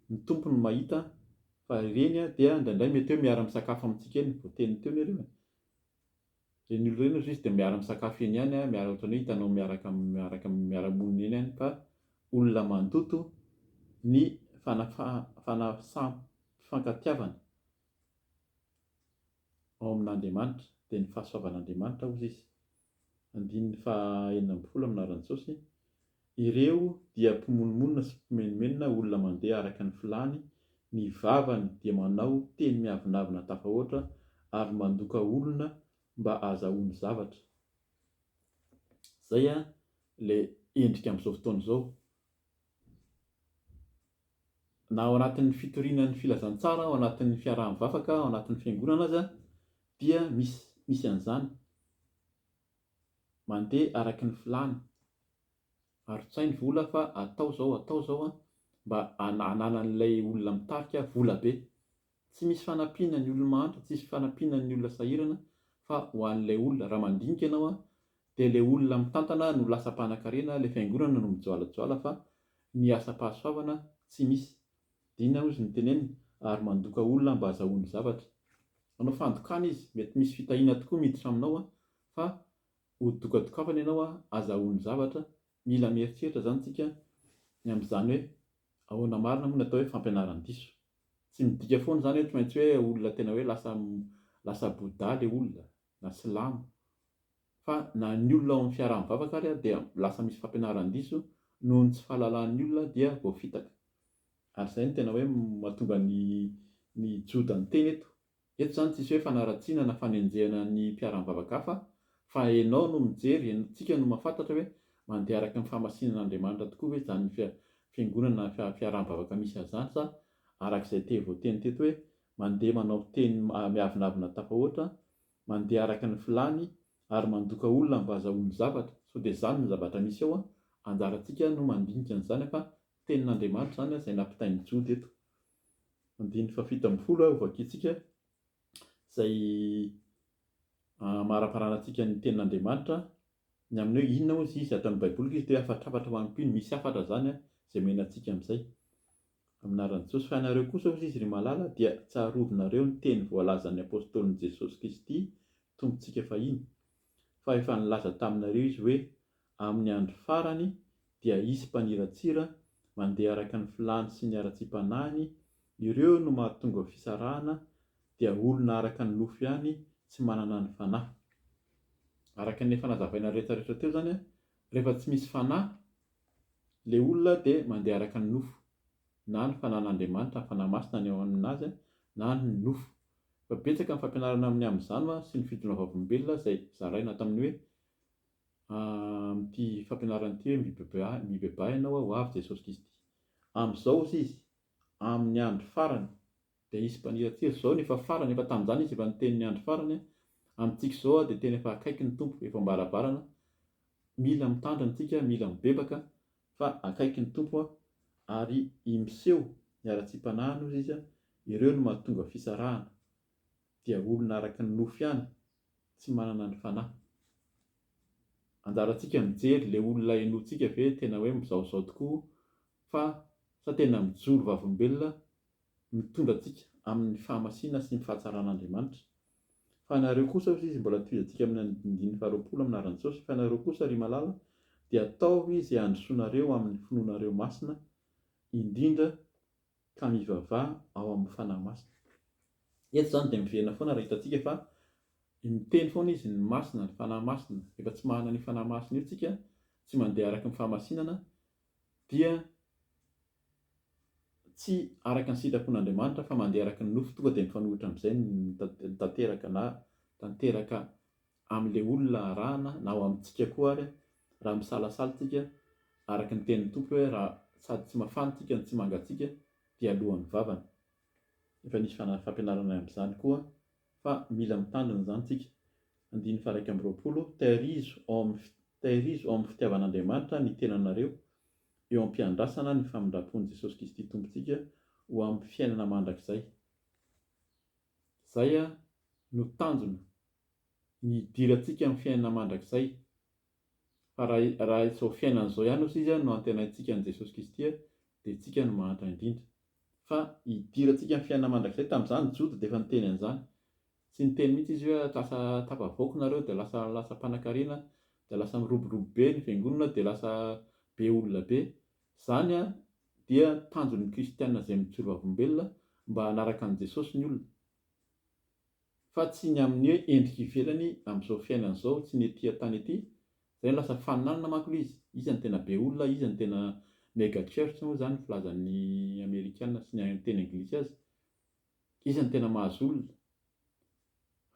ny Tompo no mahita fa ireny dia indraindray mety hoe miara misakafo amintsika eny, voateniny teo ny hariva, ireny olona ireny hozizy dia miara misakafo eny ihany, miara ohatran'ny hoe hitanao miaraka miaraka miara monina eny ihany ka olona mandoto ny fanafaham fanafaham pifankatiavana. ao amin'Andriamanitra, dia ny fahasoavan'Andriamanitra, hozy izy. Andininy faha enina ambin'ny folo amin'ny laharan'i Jaosy, Ireo dia mpimonomonona sy mpimenomenona, olona mandeha araka ny filàny, ny vavany dia manao teny miavonavona tafahoatra ary mandoka olona mba hahazahoany zavatra. Izay ilay endrika amin'izao fotoana izao. na ao anatin'ny fitoriana ny filazantsara, ao anatin'ny fiaraha-mivavaka, ao anatin'ny fiangonana aza dia misy misy an'izany. Mandeha araky ny filàna. Arotsainy vola fa atao izao, atao izao mba hananan'ilay olona mitarika vola be. Tsy misy fanampiana ny olo-mahantra, tsy misy fanampiana ny olona sahirana fa ho an'ilay olona, raha mandinika ianao an, dia ilay olona mitantana no lasa mpanakarena, ilay fiangonana no mijoalajoala fa ny asam-pahasoavana tsy misy. Dina hozy no tenenina ary mandoka olona mba azahoany zavatra. Manao fandokana izy, mety misy fitahiana tokoa miditra aminao an, fa ho dokadokafana ianao an, azahoany zavatra, Mila mieritreritra izany isika ny amin'izany hoe ahoana marina moa ny atao hoe fampianaran-diso. Tsy midika foana izany hoe tsy maintsy hoe olona tena hoe lasa lasa Bouddha ilay olona na silamo. Fa na ny olona ao amin'ny fiaraha-mivavaka ary dia lasa misy fampianaran-diso noho ny tsy fahalalahan'ny olona dia voafitaka. Ary izay no tena hoe mahatonga ny ny Joda niteny eto. Eto izany tsisy hoe fanaratsiana na fanenjehana ny mpiara-mivavaka hafa fa enao no mijery, en, tsika no mahafantatra hoe mandeha araka ny fahamasinana Andriamanitra tokoa ve izany fia, fiangonana na fia, fiaraha-mivavaka misy azy izany sa araka izay te voateny teto hoe mandeha manao fiteny ma, miavonavona tafahoatra, mandeha araka ny filany ary mandoka olona mba azahoany zavatra, sao dia izany no zavatra misy ao, anjarantsika no mandinika an'izany fa tenin'Andriamanitra izany izay nampitain'i Jody eto. andininy fahafito ambin'ny folo ho vakintsika izay amaraparana antsika ny tenin'Andriamanitra ny amin'ny hoe inona moa izy ato amin'ny Baiboly izy dia hafatrafatra ho an'mpino misy hafatra izany a izay omena antsika amin'izay amin'anaran'i Jesosy fa ianareo kosa hoy izy ry malala dia tsarovinareo ny teny voalazan'ny apostolin'i Jesosy Kristy Tompontsika fahiny fa efa nilaza taminareo izy hoe Amin'ny andro farany dia hisy mpaniratsira mandeha araka ny filàny sy ny haratsiam-panahiny, ireo no mahatonga ho fisarahana dia olona araka ny nofo ihany tsy manana ny fanahy. Araka ny efa nazavaina rehetrarehetra teo izany, rehefa tsy misy fanahy ilay olona dia mandeha araka ny nofo, na ny fanahin'Andriamanitra, ny fanahy masina ny ao aminazy, na ny nofo. Efa betsaka ny fampianarana amin'ny amin'izany sy ny fitondram-bavolombelona izay zaraina tamin'ny hoe. Amin'ity fampianarana ity hoe mibebaha ianao aho ho avy Jesosy Kristy. Amin'izao hozy izy, amin'ny andro farany, dia hisy mpaniratsira. Izao no efa farany, efa tamin'izany izy efa niteny ny andro farany, amintsika izao dia tena efa akaiky ny Tompo, efa am-baravarana, mila mitandrina isika, mila mibebaka fa akaiky ny Tompo ary i miseho ny haratsiam-panahiny hozy izy, ireo no mahatonga fisarahana, dia olona araka ny nofo ihany tsy manana ny fanahy. Anjarantsika mijery le olona henointsika ve tena hoe mizaozao tokoa fa sa tena mijoro vavolombelona mitondra antsika amin'ny fahamasina sy ny fahatsaran'Andriamanitra. Fa ianareo kosa hozy izy mbola tohizantsika amin'ny andinindininy faharoapolo amin'ny anaran'i Jesosy, fa ianareo kosa ry malala dia ataovy izay handrosoanareo amin'ny finoanareo masina indrindra, ka mivavaha ao amin'ny Fanahy Masina. Eto izany dia miverina foana raha hitantsika fa miteny foana izy ny Masina, ny Fanahy Masina. Rehefa tsy manana an'io Fanahy Masina io isika, tsy mandeha araka ny fahamasinana, dia tsy araka ny sitrapon'Andriamanitra fa mandeha araka ny nofo, tonga dia mifanohitra amin'izay ny tanteraka na tanteraka amin'ilay olona arahana na ao amintsika koa ary raha misalasala tsika araka ny tenin'ny Tompo hoe raha sady tsy mafan tsika no tsy mangatsiaka dia aloha mivavana. Efa nisy fampianarana amin'izany koa fa mila mitandrina izany tsika. Andininy faha iraika amby roapolo, Tairizo ao amin'ny Tairizo ao amin'ny fitiavan'Andriamanitra ny tenanareo eo am-piandrasana ny famindrampon'i Jesosy Kristy Tompontsika ho amin'ny fiainana mandrakizay. Izay no tanjona, ny hidirantsika amin'ny fiainana mandrakizay. Fa raha izao fiainana izao ihany osa izy no antenaintsika an'i Jesosy Kristy dia isika no mahantra indrindra. Fa hidirantsika amin'ny fiainana mandrakizay, tamin'izany Jody dia efa niteny an'izany. Tsy niteny mihitsy izy hoe lasa tafavoaka nareo dia lasa lasa mpanakarena, dia lasa miroborobo be ny fiangonana dia lasa be olona be. Izany dia tanjon'ny kristiana izay mijoro vavolombelona mba hanaraka an'i Jesosy ny olona, fa tsy ny amin'ny hoe endrika ivelany amin'izao fiainana izao, tsy ny ety an-tany ety, izay no lasa faninanana manko ilay izy, iza no tena be olona, iza no tena mega church moa izany filazan'ny amerikana sy ny teny anglisy azy, iza no tena mahazo olona.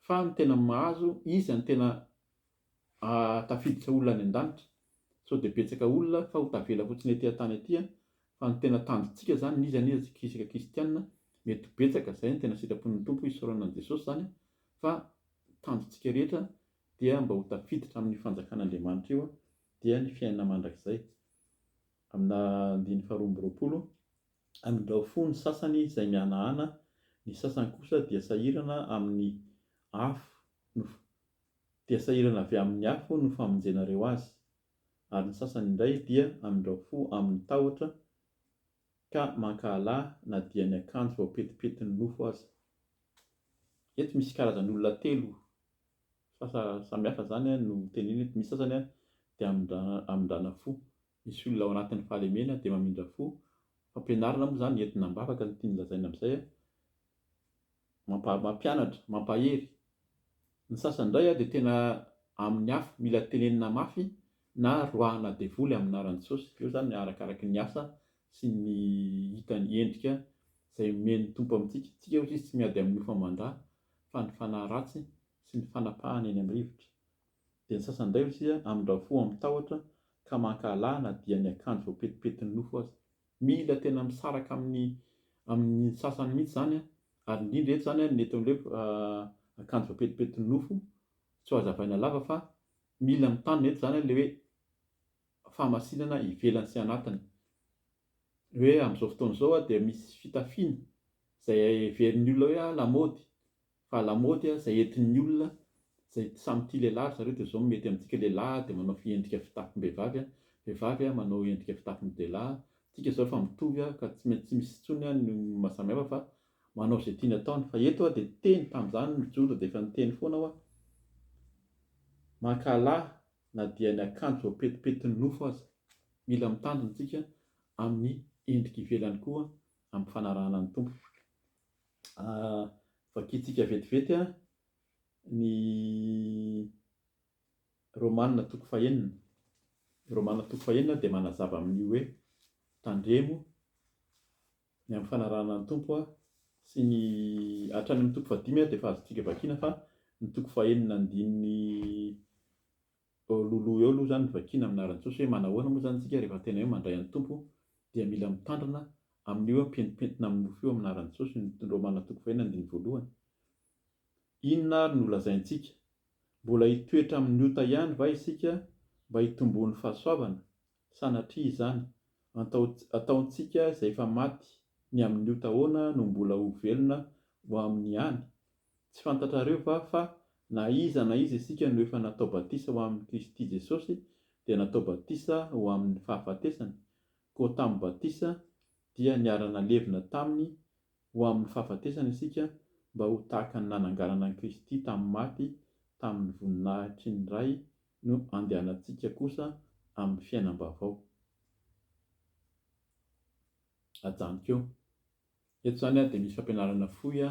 fa ny tena mahazo iza ny tena tafiditra olona any andanitra sao dia betsaka olona fa ho tavela fotsiny ety antany ety an fa ny tena tanjontsika zany n'iza n'iza tsika isaka kistianina mety ho betsaka zay ny tena sitrapon'ny tompo isaorana an'i jesosy zany an fa tanjontsika rehetra dia mba ho tafiditra amin'ny fanjakan'andriamanitra io dia ny fiainana mandrakizay amina andininy faharoa amby roapolo Amin'ireo fo ny sasany izay mihanahana, ny sasany kosa dia sahirana amin'ny afo no dia sahirana avy amin'ny afo no famonjenareo azy, ary ny sasany indray dia amin'ireo fo amin'ny tahotra ka mankahala na dia ny akanjo voapetipetin'ny nofo aza. Eto misy karazan'olona telo samihafa izany no tenenina eto, misy sasany dia amindrana fo, Misy olona ao anatin'ny fahalemena dia mamindra fo, fampianarana moa izany entina am-bavaka no tiany lazaina amin'izay, mampianatra, mampahery. Ny sasany indray dia tena amin'ny afo, mila tenenina mafy na roahina devoly amin'ny anaran'i Jesosy. Eo izany arakaraky ny asa sy ny hitany endrika izay omen'ny Tompo amintsika. Isika hozy izy tsy miady amin'ny nofo aman-dra fa ny fanahy ratsy sy ny fanapahana eny amin'ny rivotra. Dia ny sasany indray hosia amin-dra fo amin'ny tahotra ka mankahala na dia ny akanjo voapetipetin'ny nofo aza. Mila tena misaraka amin'ny amin'ny sasany mihitsy izany ary indrindra eto izany ny eto amin'ilay hoe akanjo voapetipetin'ny nofo tsy ho hazavaina lava fa mila mitandrina eto izany ilay hoe fahamasinana ivelany sy anatiny. Hoe amin'izao fotoana izao dia misy fitafiana izay heverin'ny olona hoe lamaody Fa lamaody a zay entin'ny olona zay samy tia lehilahy ry zareo de zao mety amintsika lehilahy a de manao fiendrika fitafim-behivavy a vehivavy a manao endrika fitafin-dehilahy tsika zao efa mitovy a ka tsy maintsy tsy misy intsony a ny maha samy hafa fa manao zay tiany ataony fa eto a de teny tamzany mijoro de efa niteny foana aho a mankahalà na dia ny akanjo voapetipetin'ny nofo aza mila mitandrina tsika amin'ny endrika ivelany koa ampifanarahana ny Tompo. Vakintsika vetivety ny Romana toko fahenina. Ny Romana toko fahenina dia manazava amin'ny hoe tandremo ny amin'ny fanarahana ny Tompo sy ny hatrany amin'ny toko fahadimy dia efa azontsika vakiana fa ny toko fahenina andininy Eo loloha eo aloha izany ny vakiana amin'ny anaran'i Jesosy hoe manahoana moa izany isika rehefa tena hoe mandray an'ny Tompo dia mila mitandrina amin'io hoe mipentipentina amin'ny nofo io amin'ny anaran'i Jesosy ny Romana toko fahiny andininy voalohany. Inona ary no lazaintsika? Mbola hitoetra amin'ny ota ihany va isika mba hitomboan'ny fahasoavana? Sanatria izany, ataontsika izay efa maty ny amin'ny ota ahoana no mbola ho velona ho amin'ny any? Tsy fantatrareo va fa na iza na iza isika no efa natao batisa ho amin'i Kristy Jesosy dia natao batisa ho amin'ny fahafatesany, koa tamin'ny batisa dia niara-nalevina taminy ho amin'ny fahafatesana isika mba ho tahaka ny nananganana an'i Kristy tamin'ny maty tamin'ny voninahitry ny Ray no andehanantsika kosa amin'ny fiainam-baovao. Ajanoko eo. Eto izany dia misy fampianarana fohy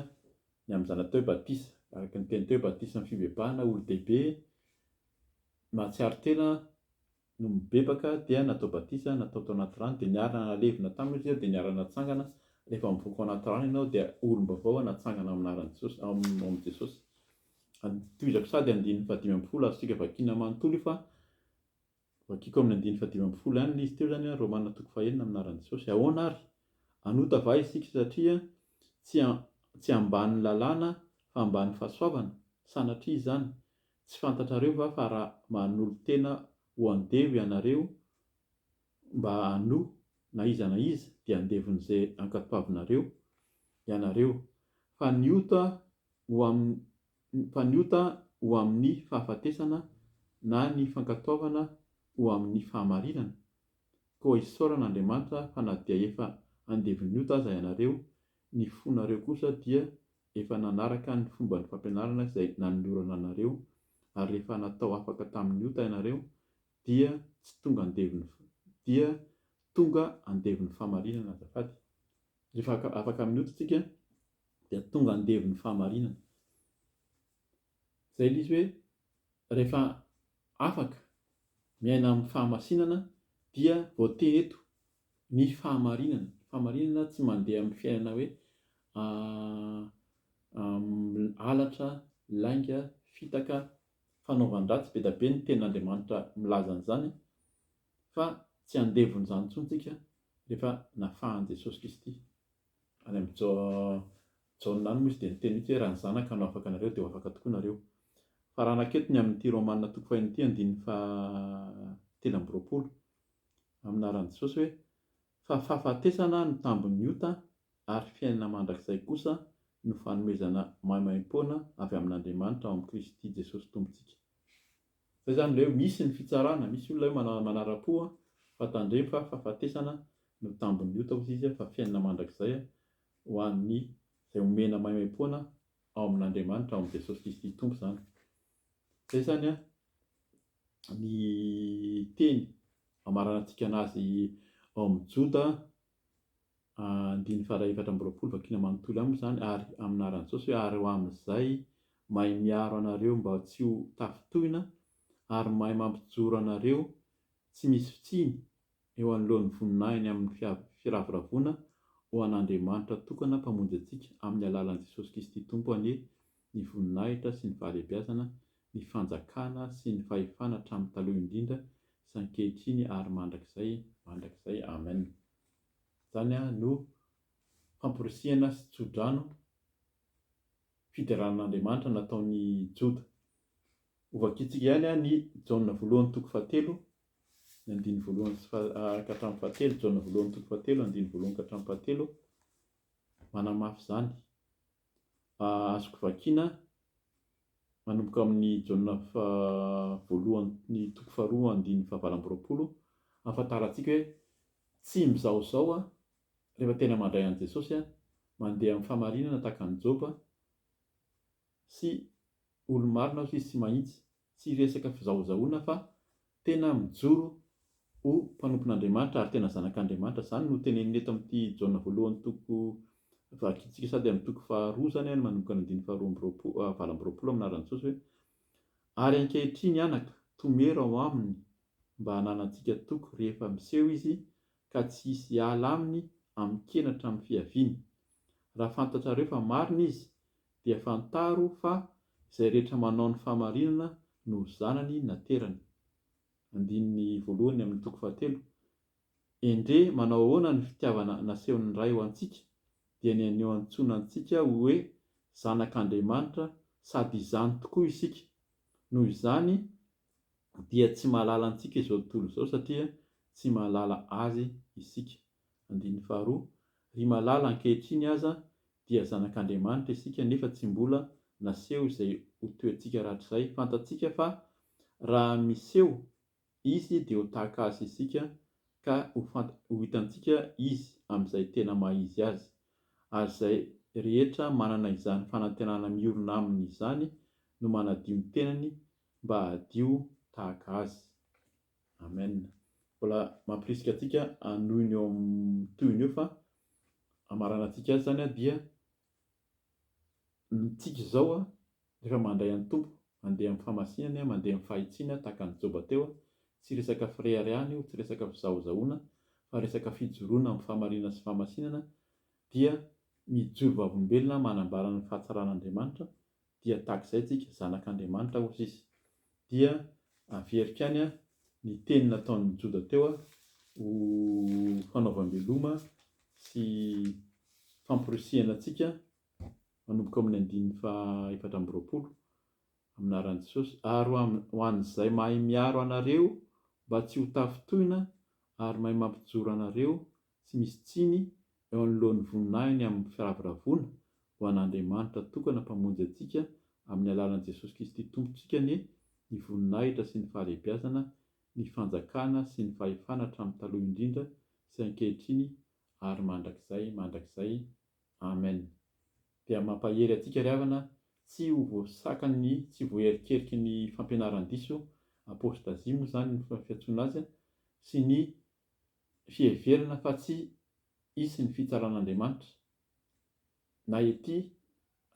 ny amin'ny zanatao batisa. Araka ny teny teo, batisa amin'ny fibebahana, olon-dehibe nahatsiaro tena no mibebaka dia natao batisa, natao tao anaty rano, dia niarina nalevina taminy izy ireo dia niarina natsangana. Rehefa mivoaka ao anaty rano ianao dia olom-baovao natsangana amin'ny anaran'i Jesosy, ao amin'i Jesosy. Tohizako sady andininy fahadimy ambin'ny folo azontsika vakiana manontolo io fa vakiako amin'ny andininy fahadimy ambin'ny folo ihany ilay izy teo izany, Romana toko fahenina amin'ny anaran'i Jesosy. Ahoana ary? Hanota va isika satria tsy tsy ambanin'ny lalàna fa ambanin'ny fahasoavana? Sanatria izany! Tsy fantatrareo va fa raha manolo-tena ho andevo ianareo mba hano na iza na iza dia andevon'izay ankapavinareo ianareo. Fa ny ota ho amin'ny mpaniota ho amin'ny fahafatesana na ny fankatoavana ho amin'ny fahamarinana? Koa isaorana Andriamanitra fa na dia efa andevon'ny ota aza ianareo, ny fonareo kosa dia efa nanaraka ny fomban'ny fampianarana izay nanolorana anareo, ary rehefa natao afaka tamin'ny ota ianareo, dia tsy tonga andevon'ny dia tonga andevon'ny fahamarinana azafady. Rehefa afaka amin'ny ota isika, dia tonga andevo ny fahamarinana. Izay ilay izy hoe rehefa afaka miaina amin'ny fahamasinana dia voatery eto ny fahamarinana. Ny fahamarinana tsy mandeha amin'ny fiainana hoe halatra, lainga, fitaka, fanaovan-dratsy, be dia be ny tenin'Andriamanitra milaza an'izany fa tsy andevon'izany intsony isika rehefa nafahan'i Jesosy Kristy. any amin'ny Jaona any moa izy dia niteny mihitsy hoe raha ny Zanaka no afaka anareo dia ho afaka tokoa nareo. Fa raha naketo ny amin'ity Romana toko faheno ity andininy fahatelo amby roapolo, amin'ny anaran'i Jesosy hoe, Fa fahafatesana no tambin'ny ota ary fiainana mandrakizay kosa no fanomezana maimaimpoana avy amin'Andriamanitra ao amin'i Kristy Jesosy Tompontsika. Zay zany ilay hoe misy ny fitsarana, misy olona hoe manara-po fa tandremo fa fahafatesana no tambin'ny ota hozy izy fa fiainana mandrakizay ho an'ny izay omena maimaimpoana ao amin'Andriamanitra ao amin'i Jesosy Kristy Tompo izany. Zay zany ny teny hamaranantsika anazy ao amin'ny Joda andininy faha efatra amby roapolo vakina manontolo aminy izany ary amin'aran'i Jesosy hoe ary ho amin'izay mahay miaro anareo mba tsy ho tafintohina ary mahay mampijoro anareo tsy misy fitsiny eo anoloan'ny voninahiny amin'ny firavoravoana ho an'Andriamanitra tokana mpamonjy antsika amin'ny alalan'i Jesosy Kristy Tompo anie ny voninahitra sy ny fahalebiazana ny fanjakana sy ny fahefana hatramin'ny taloha indrindra sy ankehitriny ary mandrakizay mandrakizay Amen. Izany no famporisihana sy tso-drano fideranan'Andriamanitra nataon'i Joda. Hovakiantsika ihany ny Jaona voalohany toko fahatelo, ny andininy voalohany sy faha- ka hatramin'ny fahatelo, Jaona voalohany toko fahatelo, andininy voalohany ka hatramin'ny fahatelo, manamafy izany. Azoko vakiana. manomboka amin'ny Jaona faha-voalohany toko faharoa andininy fahavalo amby roapolo, ahafantarantsika hoe tsy mizahozaho aho rehefa tena mandray an'i Jesosy aho, mandeha amin'ny fahamarinana tahaka an'i Joba sy olo-marina aho sy tsy mahitsy, tsy resaka fizahozahoana fa Tena mijoro ho mpanompon'Andriamanitra ary tena zanak'Andriamanitra. Izany no teneniny eto amin'ity Jaona voalohany toko, vakintsika sady amin'ny toko faharoa izany an, manomboka ny andininy faharoa amby roapolo, valo amby roapolo amin'ny anaran'i Jesosy hoe, Ary ankehitriny anaka, tomero ao aminy mba hananantsika toky rehefa miseho izy ka tsy hisy hiala aminy amin-kenatra amin'ny fiaviany. Raha fantatrareo fa marina izy dia fantaro fa izay rehetra manao ny fahamarinana no zanany naterany. Andininy voalohany amin'ny toko fahatelo. Endrey manao ahoana ny fitiavana nasehon'ny Ray ho antsika, dia ny anio antsoina antsika ho hoe zanak'Andriamanitra sady izany tokoa isika. Noho izany dia tsy mahalala antsika izao tontolo izao satria tsy mahalala Azy isika. Andininy faharoa, Ry malala, ankehitriny aza dia zanak'Andriamanitra isika nefa tsy mbola naseho izay ho toetsika rahatrizay. Fantatsika fa raha miseho Izy dia ho tahaka Azy isika ka ho ho hitantsika Izy amin'izay tena maha Izy Azy. Ary izay rehetra manana izany fanantenana miorina Aminy izany no manadio ny tenany mba hadio tahaka Azy. Amen. Mbola mampirisika antsika hanohy ny eo amin'ny tohiny eo fa hamaranantsika azy izany dia ny tsika izao rehefa mandray an'ny Tompo, mandeha amin'ny famasinany, mandeha amin'ny fahitsiana tahaka an'i Joba teo, tsy resaka fireharehana io, tsy resaka fizahozahoana fa resaka fijoroana amin'ny fahamarinana sy fahamasinana dia mijoro vavolombelona manambara ny fahatsaran'Andriamanitra dia tahaka izay tsika, zanak' Andriamanitra hozy izy. Dia averiko any ny teny nataon' ny Joda teo ho fanaovam-beloma sy famporisihana antsika, manomboka ao amin' ny andininy fahaefatra amby roapolo, aminaran' i Jesosy, Ary ho an' izay mahay miaro anareo mba tsy ho tafintohina ary mahay mampijoro anareo tsy misy tsiny eo anoloan'ny voninahiny amin'ny firavoravoana ho an'Andriamanitra tokana Mpamonjy antsika amin'ny alalan'i Jesosy Kristy Tompontsika anie ny voninahitra sy ny fahalehibiazana, ny fanjakana sy ny fahefana hatramin'ny taloha indrindra sy ankehitriny ary mandrakizay mandrakizay. Amen. Dia mampahery antsika ry havana tsy ho voasakan'ny tsy voaherikeriky ny fampianaran-diso, apostasie moa izany ny fiantsoana azy, sy ny fiheverana fa tsy hisy ny fitsaran'Andriamanitra, na ety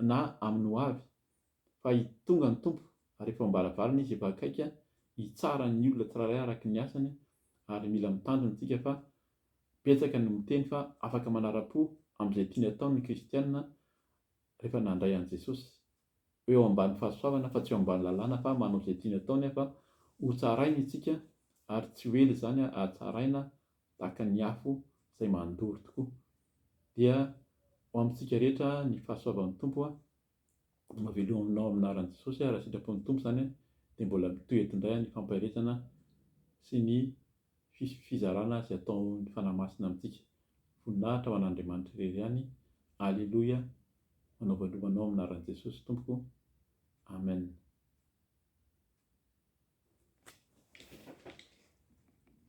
na amin'ny ho avy, fa hitonga ny Tompo ary efa ao am-baravarana Izy, efa akaiky hitsara ny olona tsirairay araka ny asany, ary mila mitandrina isika fa betsaka no miteny fa afaka manara-po amin'izay tiany atao ny kristiana rehefa nandray an'i Jesosy. ho eo ambany fahasoavana fa tsy eo ambany lalàna fa manao izay tiany atao nefa ho tsaraina itsika ary tsy ho ela izany ahatsaraina tahaka ny afo izay mandoro tokoa dia ho amintsika rehetra ny fahasoavan'ny Tompo a mavelominao amin'ny anaran'i Jesosy a raha sitrapon'ny Tompo izany dia mbola mitoeto indray ny fampaherezana sy ny fizarana izay ataon'ny Fanahy Masina amintsika. Voninahitra ho an'Andriamanitra irery ihany. Aleloia, manaova lova anao amin'ny anaran'i Jesosy tompoko. Amen.